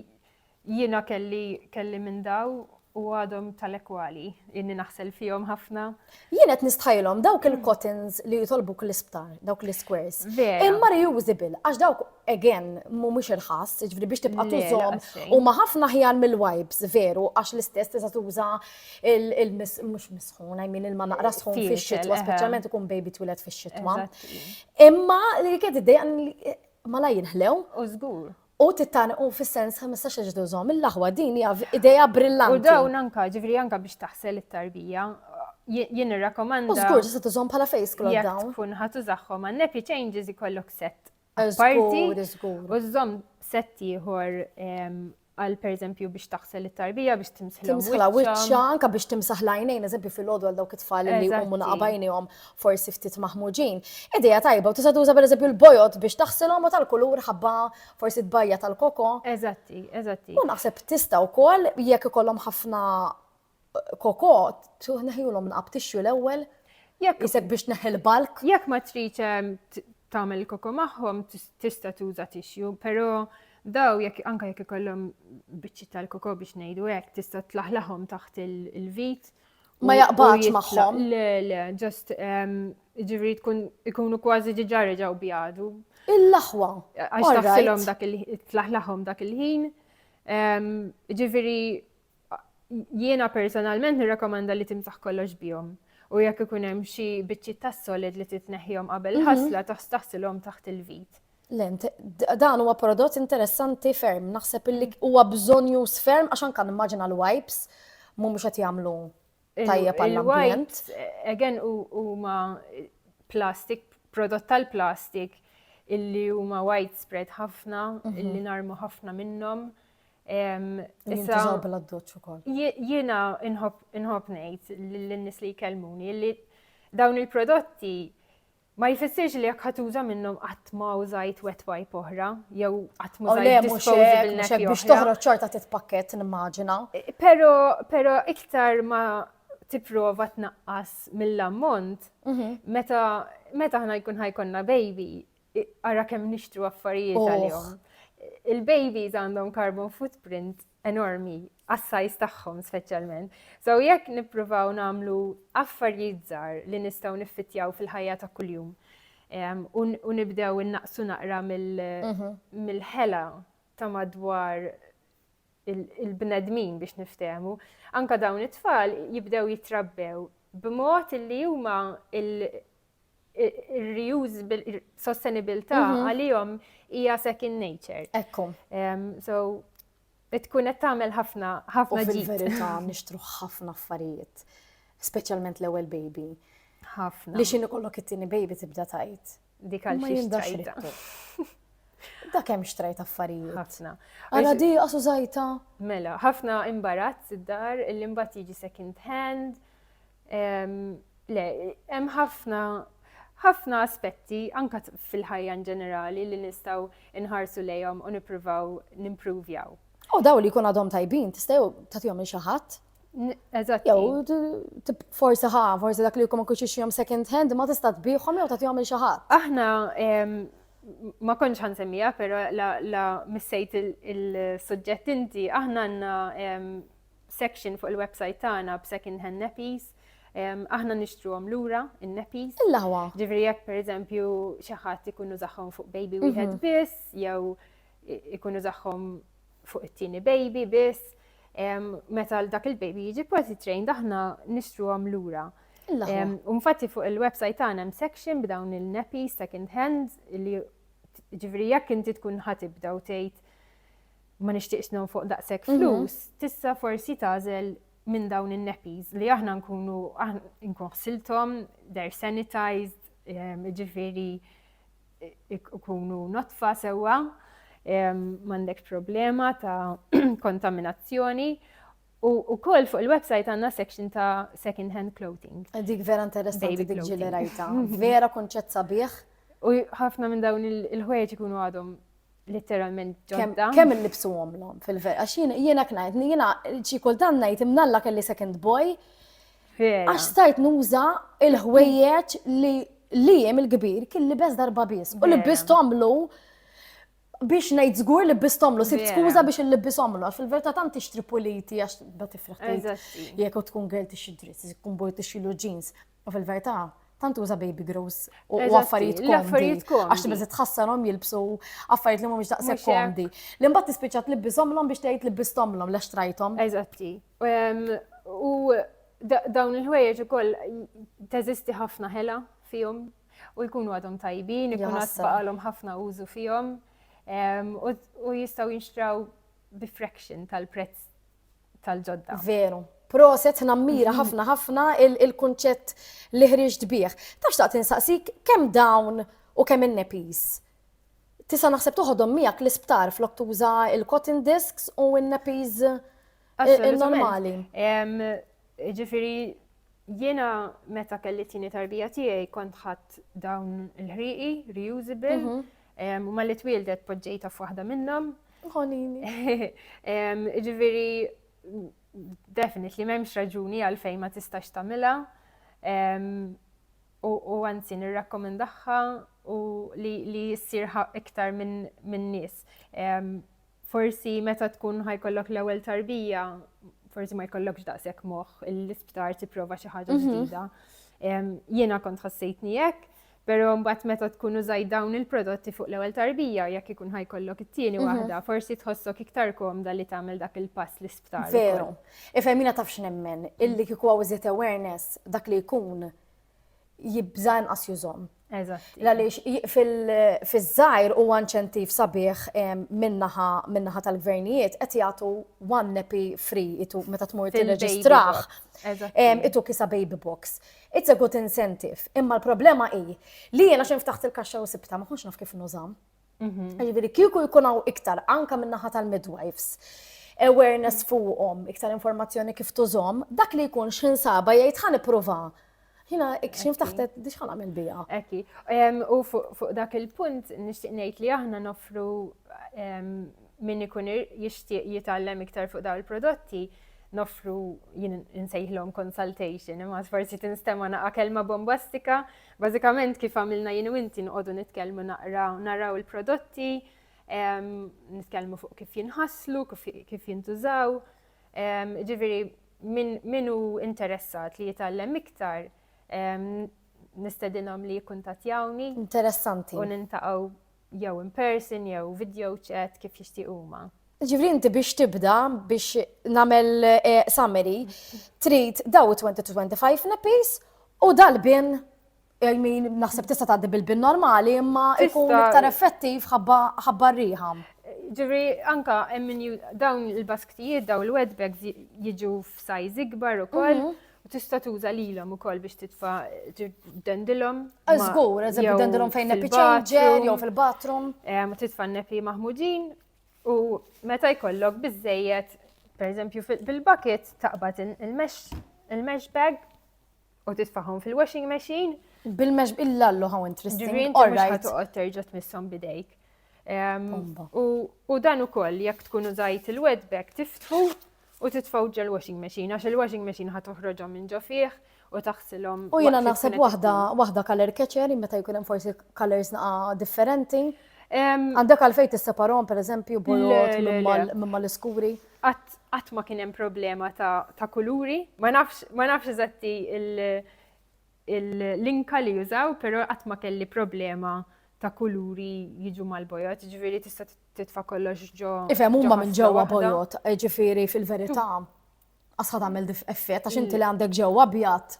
[SPEAKER 1] Jiena kelli kelli minn daw u għadhom tal-ekwali, inni naħsel fihom ħafna. Jien qed nistħajlhom
[SPEAKER 2] dawk il-cottons li jitolbuk l-isptar, dawk l-squares. Imma
[SPEAKER 1] reusable,
[SPEAKER 2] għax dawk again mhumiex irħas, ġifri biex tibqa' tużhom u ma
[SPEAKER 1] ħafna ħjar
[SPEAKER 2] mill-wipes veru għax l-istess tista' tuża il-mhux misħun, I mean il-ma naqra sħun fix-xitwa, speċjalment
[SPEAKER 1] ikun baby
[SPEAKER 2] twilet fix-xitwa.
[SPEAKER 1] Imma li
[SPEAKER 2] kien id-dejja ma la jinħlew. U żgur.
[SPEAKER 1] U titaniq hu
[SPEAKER 2] fis-sens ħmistax-il ġdu żomm il-aħwa, din hija idea brillanti. U
[SPEAKER 1] dawn
[SPEAKER 2] anka, ġifieri
[SPEAKER 1] anka biex taħsel it-tarbija, jien irrakomanda. U żgur
[SPEAKER 2] se tużhom
[SPEAKER 1] bħala
[SPEAKER 2] face cloth dawn. Jekk tkun ħa
[SPEAKER 1] tużahom
[SPEAKER 2] għal
[SPEAKER 1] nappy changes ikollok set. Parti
[SPEAKER 2] u żomm
[SPEAKER 1] set ieħor għal pereżempju biex taħsel it-tarbija biex timsħilhom. Timsħilha wiċċha, anka
[SPEAKER 2] biex timsaħ l-għajnejn, eżempju fil-għodu għal dawk it-tfal li jqumu naqabajnihom forsi ftit maħmuġin, idea tajba u tista' tuża pereżempju l-bojod biex taħsilhom u tal-kulur ħabba forsi tbajja' tal-koko. Eżatti, eżatti.
[SPEAKER 1] U naħseb tista'
[SPEAKER 2] wkoll jekk ikollhom ħafna koko tneħħihulhom nqab tixju l-ewwel isek biex tneħħi l-bulk. Jekk ma tridx
[SPEAKER 1] tagħmel il-koko magħhom tista' tuża tixju, però daw jekk anke jekk ikollhom biċċiet tal-koko biex ngħidu hekk tista' tlaħlaħhom taħt il-vit Ma jaqbadx
[SPEAKER 2] magħhom. Le, le, ġast
[SPEAKER 1] ehm, ġivri tkun ikunu kważi ġiġa reġaw bjadu. Il-laħwa.
[SPEAKER 2] Għax taħsilhom
[SPEAKER 1] dak il-tlaħlaħom dak il-ħin. Ehm, ġivri jiena personalment nirrakomanda li timsaħ kollox bihom. U jekk ikun hemm xi biċċiet tas-solid li titneħħihom qabel mhm. ħasla taħsilhom taħt il-vit. Lent,
[SPEAKER 2] dan huwa prodott interessanti ferm, naħseb illi huwa bżonn jus ferm għax anke nimmaġina l-wipes mhumiex qed jagħmlu tajjeb għall-ambjent. Again
[SPEAKER 1] huma plastik, prodott tal-plastik illi huma widespread ħafna, mhm. illi narmu ħafna minnhom.
[SPEAKER 2] Issa bl-addoċ ukoll. Jiena
[SPEAKER 1] inħobb ngħid lin-nies li jkellmuni li dawn il-prodotti Ma jfissirx li jekk ħa tuża minnhom qatt ma użajt wet wipe oħra jew qatt ma użajt disposable nappy oħra. Biex toħroġ xorta
[SPEAKER 2] titpakkett nimmaġina. Pero, pero
[SPEAKER 1] iktar ma tipprova tnaqqas mill-ammont, meta meta aħna jkun ħajkonna baby, ara kemm nixtru affarijiet għalihom. Il-babies għandhom carbon footprint enormi għas-size tagħhom speċjalment. So jekk nippruvaw nagħmlu affarijiet żgħar li nistgħu niffittjaw fil-ħajja ta' kuljum u nibdew innaqsu naqra mhm. mill-ħela ta' madwar il-bnedmin biex niftehmu, anka dawn it-tfal jibdew jitrabbew b'mod li huma reusable sostenibilità mhm. għalihom hija second nature. Ekku.
[SPEAKER 2] So
[SPEAKER 1] tkun qed tagħmel ħafna ħafna ġid. Fil-verità nixtru
[SPEAKER 2] ħafna affarijiet, speċjalment l-ewwel baby. Ħafna. Li
[SPEAKER 1] x'inhu kollok it-tieni
[SPEAKER 2] baby tibda tajt. Dik għal xi xtrajta. Da kemm xtrajt affarijiet. Ħafna. Għala
[SPEAKER 1] di għasu
[SPEAKER 2] zajta. Mela, ħafna
[SPEAKER 1] imbarazz id-dar, l-imbat jiġi second hand, Le, hemm ħafna ħafna aspetti anka fil-ħajja ġenerali li nistgħu nħarsu lejhom u nippruvaw nimpruvjaw. U daw li jkun
[SPEAKER 2] għadhom tajbin, tista' jew tagħtihom il xi ħadd. Eżatt. Jew forsi ħa, forsi dak li jkun ma kunx jom second hand ma tista' tbieħhom jew tagħtihom il xi ħadd. Aħna
[SPEAKER 1] ma konċ ħan semmija, pero la missejt il-sujġett inti, aħna għanna section fuq il-website tagħna b'second hand nappies. Aħna nixtruhom lura in-nappies. Il-lawa. Ġifieri jekk
[SPEAKER 2] pereżempju
[SPEAKER 1] xi ħadd ikun użahom fuq baby mhm. wieħed biss jew ikun użahom fuq it-tieni baby biss. Meta dak il-baby jiġi party trained aħna nixtruhom lura. Unfatti fuq il-website tagħna hemm section b'dawn il-nappies second hand li ġifieri jekk inti tkun ħatibda u tgħid ma nixtieqx nonfoq daqshekk mhm. flus, tista' forsi tagħżel minn dawn in-neppies li aħna nkunu nkun ħsilthom, they're sanitized, ehm, ġifieri ikunu notfa sewwa, ehm, m'għandek problema ta' kontaminazzjoni. U koll fuq il-website għanna section ta' second hand clothing. Dik vera interessanti
[SPEAKER 2] dik ġili rajta.
[SPEAKER 1] Vera
[SPEAKER 2] konċett sabiħ. U ħafna
[SPEAKER 1] minn dawn il-ħwejġ ikunu għadhom Literalment ġodda. Kemm il-libsu għomlom
[SPEAKER 2] fil-ver, għax jiena knajt, jiena xi kultant ngħid imnalla kelli second boy. Għax stajt nuża il-ħwejjeġ li li jem il-kbir kien li bez darba bis. U li biz tomlu biex nejt zgur li bis tomlu, sibt skuza biex li bis tomlu, għax fil-verta tant tixtri puliti għax da tifraħ. Jek u tkun għel tixidri, tkun boj tixilu ġins. U fil-verità, tant uża baby grows u Eżatti, affarijiet komdi. l-affarijiet komdi. Għax tibża tħassarhom jilbsu affarijiet li mhumiex daqshekk Mhux hekk. komdi. Li mbagħad tispiċċa tlibbishomlhom biex tgħid libbisthomlhom lex trajthom. Eżatti.
[SPEAKER 1] Em, U da- dawn il-ħwejjeġ ukoll teżisti ħafna ħela fihom u jkunu għadhom tajbin, ikun għad Jaħseb. baqalhom ħafna użu fihom em, u- u jistgħu jinxtraw bi fraction tal-prezz tal-ġodda. Veru.
[SPEAKER 2] Proset nammira ħafna ħafna il-kunċett li ħriġt bih. Tax taqt insaqsik kemm dawn u kemm in-nepis. Tisa naħseb toħodhom miegħek l-isptar flok tuża il-cotton discs u n-nepis eh, normali.
[SPEAKER 1] Ġifiri, jiena meta kelli tini tarbija tiegħi kont ħadd dawn il-ħriqi, reusable, mhm. u ma li twildet poġġejta f'waħda minnhom. Mm
[SPEAKER 2] Ħonini.
[SPEAKER 1] Ġifieri definitely m'hemmx raġuni għalfejn ma tistax tagħmilha. U anzi nirrakkomendaha u li ssir iktar minn nies. Forsi meta tkun ħajkollok l-ewwel tarbija, forsi ma jkollokx daqshekk moħħ l-isptar tipprova xi ħaġa mhm. ġdida. Jiena kont ħassejtni hekk, Pero mbagħad meta tkun użajt dawn il-prodotti fuq l-ewwel tarbija jekk ikun ħajkollok it-tieni mhm. waħda, forsi tħossok iktar komda li tagħmel dak il-pass l-isptar. Veru.
[SPEAKER 2] Ifhemina taf x'nemmen, illi kieku hawn iżjed awareness dak li jkun jibża inqas jużhom. Eżatt. Għaliex fil-żajr u inċentiv sabiħ minnaħa tal-gvernijiet qed jagħtu one nappy free itu meta tmur tirreġistraħ. Itu kisa baby box. It's a good incentive, imma l-problema hi li jiena xejn ftaħt il-kaxxa u sibta ma kontx naf kif nużam. Mhm. Ġifieri kieku jkun hawn iktar anka min-naħa tal-midwives awareness fuqhom, iktar informazzjoni kif tużhom, dak li jkun x'ħin saba jgħid ħan ipprova. Jina, x'in ftaħtet biex ħan għamil bija. Eki,
[SPEAKER 1] u fuq dak il-punt nixtieq ngħid li aħna nofru Min ikun jixtieq jitgħallem iktar fuq dawn il-prodotti, noffru jien insejħlhom consultation, imma forsi tinstema' naqa' kelma bombastika. Bażikament kif għamilna jien u inti nqogħdu nitkellmu naqra naraw il-prodotti, nitkellmu fuq kif jinħaslu, kif jintużaw. Ġifieri min hu interessat li jitgħallem iktar nistedinhom li jikkuntattjawni. Interessanti. U
[SPEAKER 2] nintaqgħu
[SPEAKER 1] jew in person jew video chat kif jixtiequ huma. Ġifri inti biex
[SPEAKER 2] tibda biex namel eh, summary, trid daw 20-25 nepis u dal-bin I mean, naħseb tista' tgħaddi bil-bin normali imma ikun iktar effettiv ħabba riħam. Ġifri,
[SPEAKER 1] anka dawn il-basktijiet, dawn il-wetbags jiġu f'sajz ikbar ukoll. Mhm. U tista' tuża lilhom ukoll biex titfa' dendilhom. Żgur,
[SPEAKER 2] eżempju dendilhom fejn nepi ċenġer jew fil-bathroom. Eh, ma titfa' nepi
[SPEAKER 1] maħmudin u meta jkollok biżejjed, pereżempju bil-bucket taqbad il-mesh bag u titfahom fil-washing machine. Bil-mesh
[SPEAKER 2] il-lallu how interesting. Ġifieri inti mhux ħatoqgħod
[SPEAKER 1] terġa' tmisshom bidejk. U dan ukoll jekk tkun użajt il-wet bag tiftħu U titfgħu ġol washing machine għax il washing machine ħa toħroġhom minn ġo fih u taħsilhom. U jiena naħseb
[SPEAKER 2] waħda waħda color catcher meta jkun hemm forsi colors naqa differenti. Għandek għalfejn tisseparhom pereżempju bojod minn mal-iskuri? Qatt
[SPEAKER 1] ma kien hemm problema ta' kuluri, ma nafx eżatti l-inka li jużaw, però qatt ma kelli problema ta' kuluri jiġu mal-bojod, ġifieri tista' titfa kollox ġo. Ifhem huma minn ġewwa
[SPEAKER 2] bojot, ġifieri fil-verità. Asħa tagħmel effett għax inti li għandek ġewwa abjad.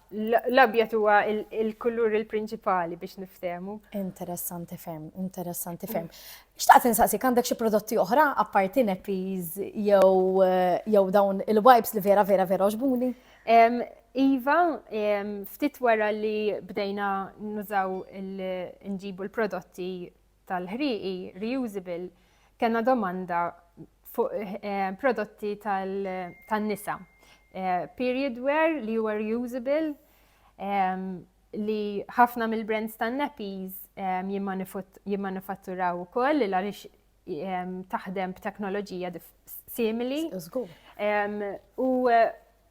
[SPEAKER 2] L-abjad huwa
[SPEAKER 1] il-kulur il-prinċipali biex niftehmu. Interessanti ferm,
[SPEAKER 2] interessanti ferm. Xtaqt insaqsik għandek xi prodotti oħra apparti neppies jew jew dawn il-wipes li vera vera vera oġbuni?
[SPEAKER 1] Iva, ftit wara li bdejna nużaw il-nġibu l-prodotti tal-ħrieqi reusable kellna domanda fuq eh, prodotti tan-nisa. Eh, period wear li huwa reusable ehm, li ħafna mill-brands tan-nappies ehm, jimmanifatturaw ukoll li għaliex ehm, taħdem b'teknoloġija simili. U
[SPEAKER 2] eh,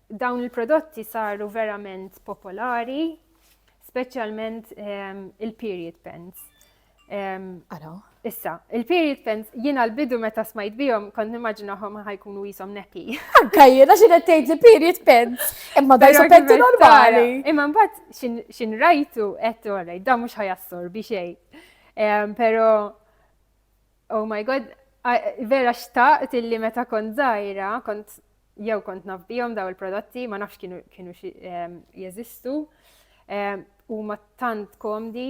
[SPEAKER 1] Dawn il-prodotti saru verament popolari, speċjalment ehm, il-period pens. Ehm,
[SPEAKER 2] Ara. Issa,
[SPEAKER 1] il-period pens jiena l-bidu meta smajt bihom kont nimmaġinahom ħajkunu jisom nepi. Anka jiena xi qed
[SPEAKER 2] tgħid li period pens. Imma daj Però sopetti kif normali. tara. Imma mbagħad
[SPEAKER 1] xin- xin rajtu qed orej, da mhux ħajassorbi xejn. Ehm, Però Oh my god, vera xtaqt illi meta kont zaħira, kont jew kont naf bihom daw il-prodotti, ma nafx kienu, kienu ehm, jeżistu, ehm, u ma tant komdi.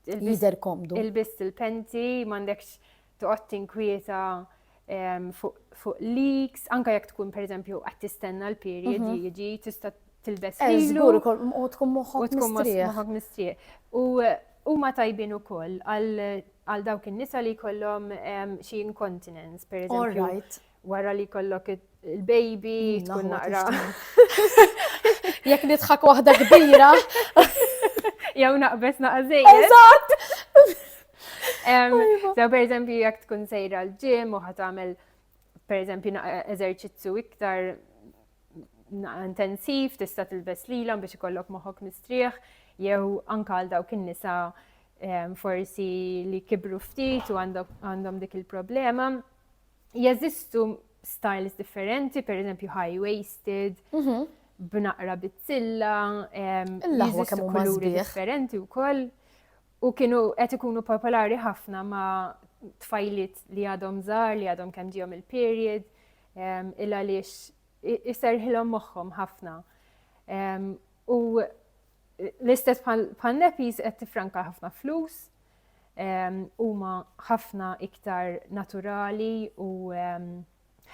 [SPEAKER 1] Jizer
[SPEAKER 2] komdu. Il-biss il-penti,
[SPEAKER 1] mandekx tuqgħod tinkwieta ehm, fuq leaks, anka jekk tkun per eżempju qed tistenna l-period mhm. jiġi tista' tilbes eh, lilu. Żgur u tkun
[SPEAKER 2] moħħok mistrieħ.
[SPEAKER 1] U Huma tajbin ukoll għal dawk in-nisa li jkollhom xi incontinence, pereżempju, wara li jkollok il-baby tkun naqra.
[SPEAKER 2] Jekk nidħak waħda kbira.
[SPEAKER 1] Jew naqbes naqżej. Eżatt! Sew pereżempju jekk tkun sejra l-ġim u ħatamel pereżempju eżerċizzju iktar intensiv, tista' tilbes lilhom biex ikollok moħħok mistrieħ, jew anka għal dawk in-nisa ehm, forsi li kibru ftit u għandhom dik il-problema. Jeżistu styles differenti, per eżempju high-waisted, mhm. b'naqra bizzilla, ehm, jeżistu kuluri differenti u koll. U kienu qed ikunu popolari ħafna ma' tfajlit li għadhom żar, li għadhom kemm ġihom il-period il għaliex iserħilhom moħħhom ħafna. U l-istess bħal nepis qed tifranka ħafna flus, huma ħafna iktar naturali u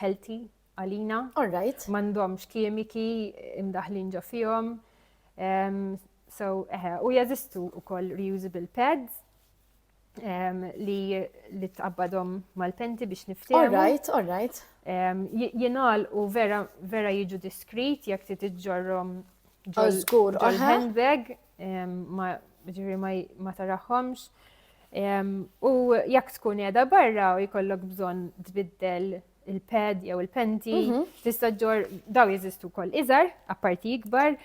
[SPEAKER 1] healthy għalina. Alright. M'għandhomx
[SPEAKER 2] kimiki
[SPEAKER 1] imdaħlin ġo fihom. So, eħe, u jazistu u koll reusable pads li li tqabbadhom mal-penti biex niftehmu. All right, all right.
[SPEAKER 2] Jinal
[SPEAKER 1] u vera vera jiġu diskrit jekk ti tiġġorhom ġol oh, handbag ma ġiri ma taraħħomx. U jekk tkun qiegħda barra u jkollok bżonn tbiddel il-pad jew il-penti, mhm. tista' ġor daw jeżistu wkoll iżgħar, apparti ikbar,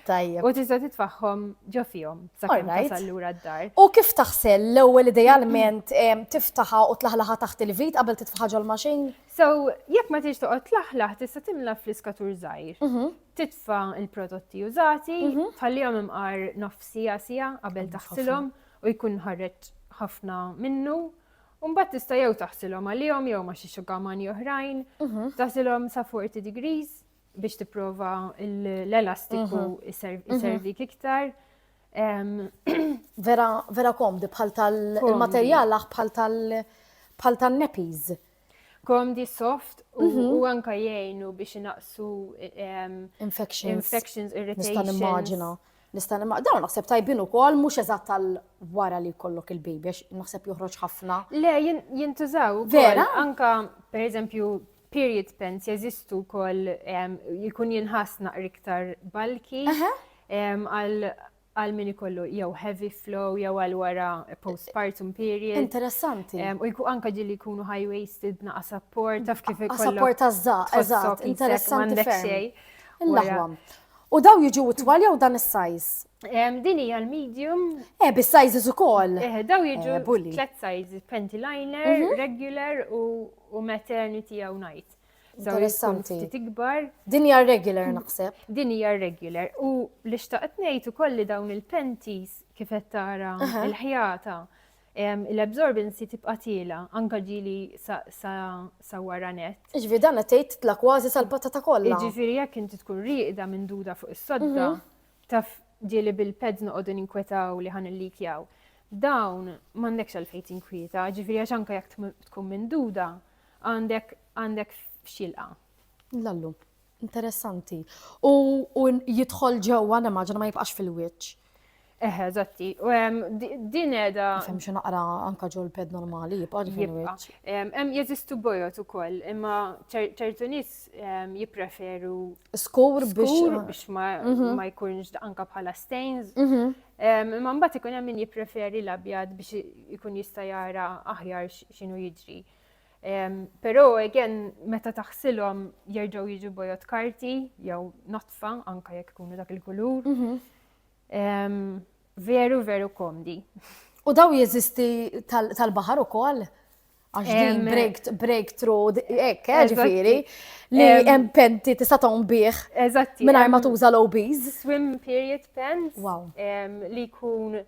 [SPEAKER 1] u tista' titfaħħom ġo fihom sakemm tasal lura d-dar. U kif taħsel
[SPEAKER 2] l-ewwel idealment tiftaħa u tlaħlaħa taħt il-vit qabel titfaħħa ġol maċin? So, jekk
[SPEAKER 1] ma tiex toqgħod tlaħlaħ tista' timla fl-iskatur żgħir. Mhm. Titfa' il-prodotti użati, mhm. tħallihom imqar nofsija sija qabel taħsilhom u jkun ħarreġ ħafna minnu U mbagħad tista' jew taħsilhom għalihom jew ma' xi xugamani oħrajn, taħsilhom sa 40 degrees biex tipprova l-elastiku jservik iktar.
[SPEAKER 2] Vera komdi bħal tal-materjal bħal tal-neppies. komdi
[SPEAKER 1] soft u mhm. anka jgħinu biex inaqsu infections, infections irritations. Nista' nimmaġina. Nista' nimmaġina.
[SPEAKER 2] Dawn naħseb tajbin ukoll mhux eżatt tal wara li jkollok il-baby għax naħseb joħroġ ħafna. Le
[SPEAKER 1] jintużaw vera anka pereżempju period pants jeżistu wkoll jkun jinħass naqri iktar balki għal għal min ikollu jew heavy flow jew għal wara postpartum period. Interessanti. U
[SPEAKER 2] jkun anka ġilli
[SPEAKER 1] jkunu high waisted naqa support taf kif ikollok. Support tażża, eżatt,
[SPEAKER 2] interessanti ferm. Il-laħwam. U daw
[SPEAKER 1] jiġu twal
[SPEAKER 2] jew dan is-sajz? Din hija
[SPEAKER 1] l-medium. Eh, bis-sizes
[SPEAKER 2] ukoll. Eh, daw jiġu eh,
[SPEAKER 1] tliet sizes, panty liner, mhm. regular u maternity jew night. Interessanti.
[SPEAKER 2] Ftit ikbar.
[SPEAKER 1] Din hija regular
[SPEAKER 2] naħseb. Din hija regular.
[SPEAKER 1] U li xtaqt ngħid ukoll li dawn il-penties kif qed tara il-ħjata l-absorbency tibqa' tiela anka ġili sa wara net. Ġifieri dan qed tgħid
[SPEAKER 2] tla kważi sal-patata kollha. Ġifieri jekk inti tkun
[SPEAKER 1] rieqda minn duda fuq is-sodda mhm. taf ġieli bil-peds noqogħdu ninkwetaw li ħan il-likjaw. Dawn m'għandekx għalfejn tinkwieta, ġifieri għax anka jekk tkun minn duda Għandek għandek xilqa. Lallu,
[SPEAKER 2] interessanti. U jidħol ġewwa nimmaġina ma jibqax fil-wiċċ. Eħe,
[SPEAKER 1] zatti. Din edha. Fem xi naqra
[SPEAKER 2] anka ġol ped normali, jibqa' ġifieri. Hemm
[SPEAKER 1] jeżistu
[SPEAKER 2] bojot
[SPEAKER 1] ukoll, imma ċertu nies jippreferu. Skur
[SPEAKER 2] biex ma
[SPEAKER 1] mhm. jkunx anka bħala stains. Mhm. Imma mbagħad ikun hemm min jippreferi l-abjad biex ikun jista' jara aħjar x'inhu jiġri. Però again meta taħsilhom jerġgħu jiġu bojot karti jew notfa anka jekk ikunu dak il-kulur. Mhm. Veru veru komdi. U daw
[SPEAKER 2] jeżisti tal-baħar ukoll? Għax din breakthrough, ekk, eh, ġifiri, li hemm penti tista' tgħum bih. Eżatti. Mingħajr ma
[SPEAKER 1] tuża l-OBs.
[SPEAKER 2] Swim period
[SPEAKER 1] pens. Wow.
[SPEAKER 2] Li jkun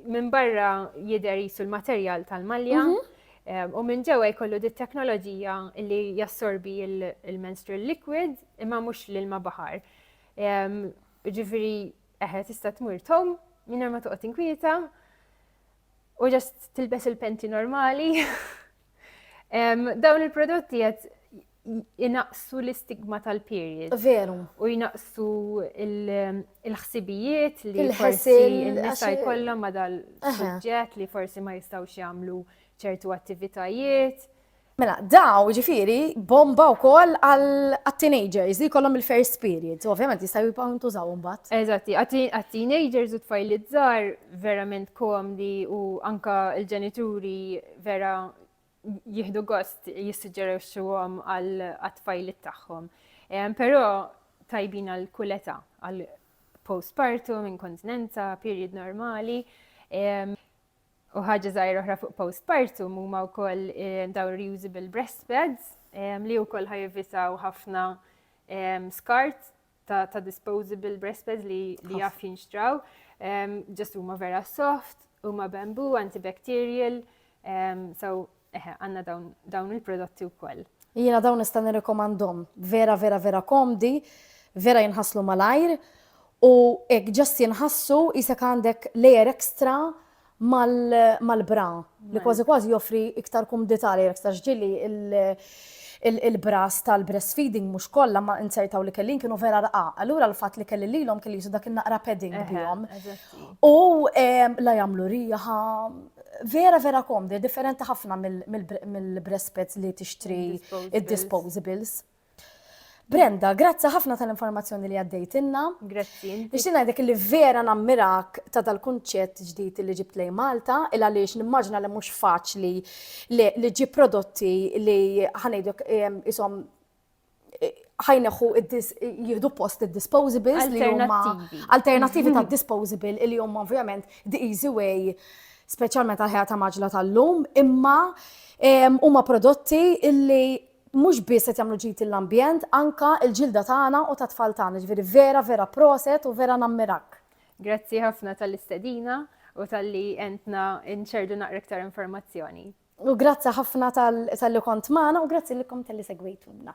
[SPEAKER 1] Minn barra jidher jisu l-materjal tal-malja mhm. eh, u minn ġewwa jkollu dit teknoloġija li jassorbi il-menstrual liquid imma mhux l-ilma baħar. Ġifieri eħe tista' tmur tom minn ma toqgħod inkwieta u ġast tilbes il-penti normali. Dawn il-prodotti qed jinaqsu l-istigma tal-period. Veru. U
[SPEAKER 2] jinaqsu
[SPEAKER 1] il-ħsibijiet li forsi n-nisa jkollhom ma dal-suġġett li forsi ma jistgħux jagħmlu ċertu attivitajiet. Mela,
[SPEAKER 2] daw ġifiri bomba u koll għal-teenagers li kollom il-first period. Ovvijament jistaw jibaw intużaw mbatt. Eżatti,
[SPEAKER 1] għal-teenagers u tfajli zzar verament komdi u anka il-ġenituri vera jihdu gost jissuġġerixxuhom għal tfajlit tagħhom. Però tajbin għal kuleta għal postpartum, inkontinenza, period normali. U ħaġa żgħira oħra fuq postpartum huma wkoll eh, dawn reusable breastpads li wkoll ħajvisaw ħafna skart ta', ta disposable breast pads li, li jaf jinxtraw, um, ġest huma vera soft, huma bambu, antibacterial, um, so eħe, għanna dawn, dawn il-prodotti u koll. Jina dawn nista'
[SPEAKER 2] nirrikomandhom, vera vera vera komdi, vera jinħaslu malajr, u ek ġest jinħassu jisek għandek layer extra mal-bra li kważi kważi joffri iktar kumdità li iktar ġili il-bras tal-breastfeeding mhux kollha ma inzertaw li kellin kienu vera rqa. Allura l-fatt li kelli lilhom kelli jisu dak in-naqra padding bihom. U la jagħmlu riħa, vera vera komdi, differenti ħafna mill-breast pads li tixtri id-disposables. Brenda, grazzi ħafna tal-informazzjoni li għaddejtinna. Grazzi. Biex
[SPEAKER 1] ngħidlek li
[SPEAKER 2] vera nammirak ta' dal-kunċett ġdid li ġibt lej Malta, il għaliex nimmaġna li mhux faċli li ġi prodotti li ħanejdlek isom ħajneħu jihdu post id-disposables li huma alternativi ta' disposable li huma ovvjament the easy way speċjalment għal ħajja ta' maġla tal-lum imma huma prodotti illi Mhux biss qed jagħmlu ġid lill-ambjent, anka l-ġilda tagħna u tat-tfal tagħna, ġifieri vera, vera proset u vera nammirak. Grazzi ħafna
[SPEAKER 1] tal-istedina u talli għentna nċerdu naqra iktar informazzjoni.
[SPEAKER 2] U grazzi ħafna talli kont
[SPEAKER 1] magħna
[SPEAKER 2] u grazzi lilkom talli segwejtuna.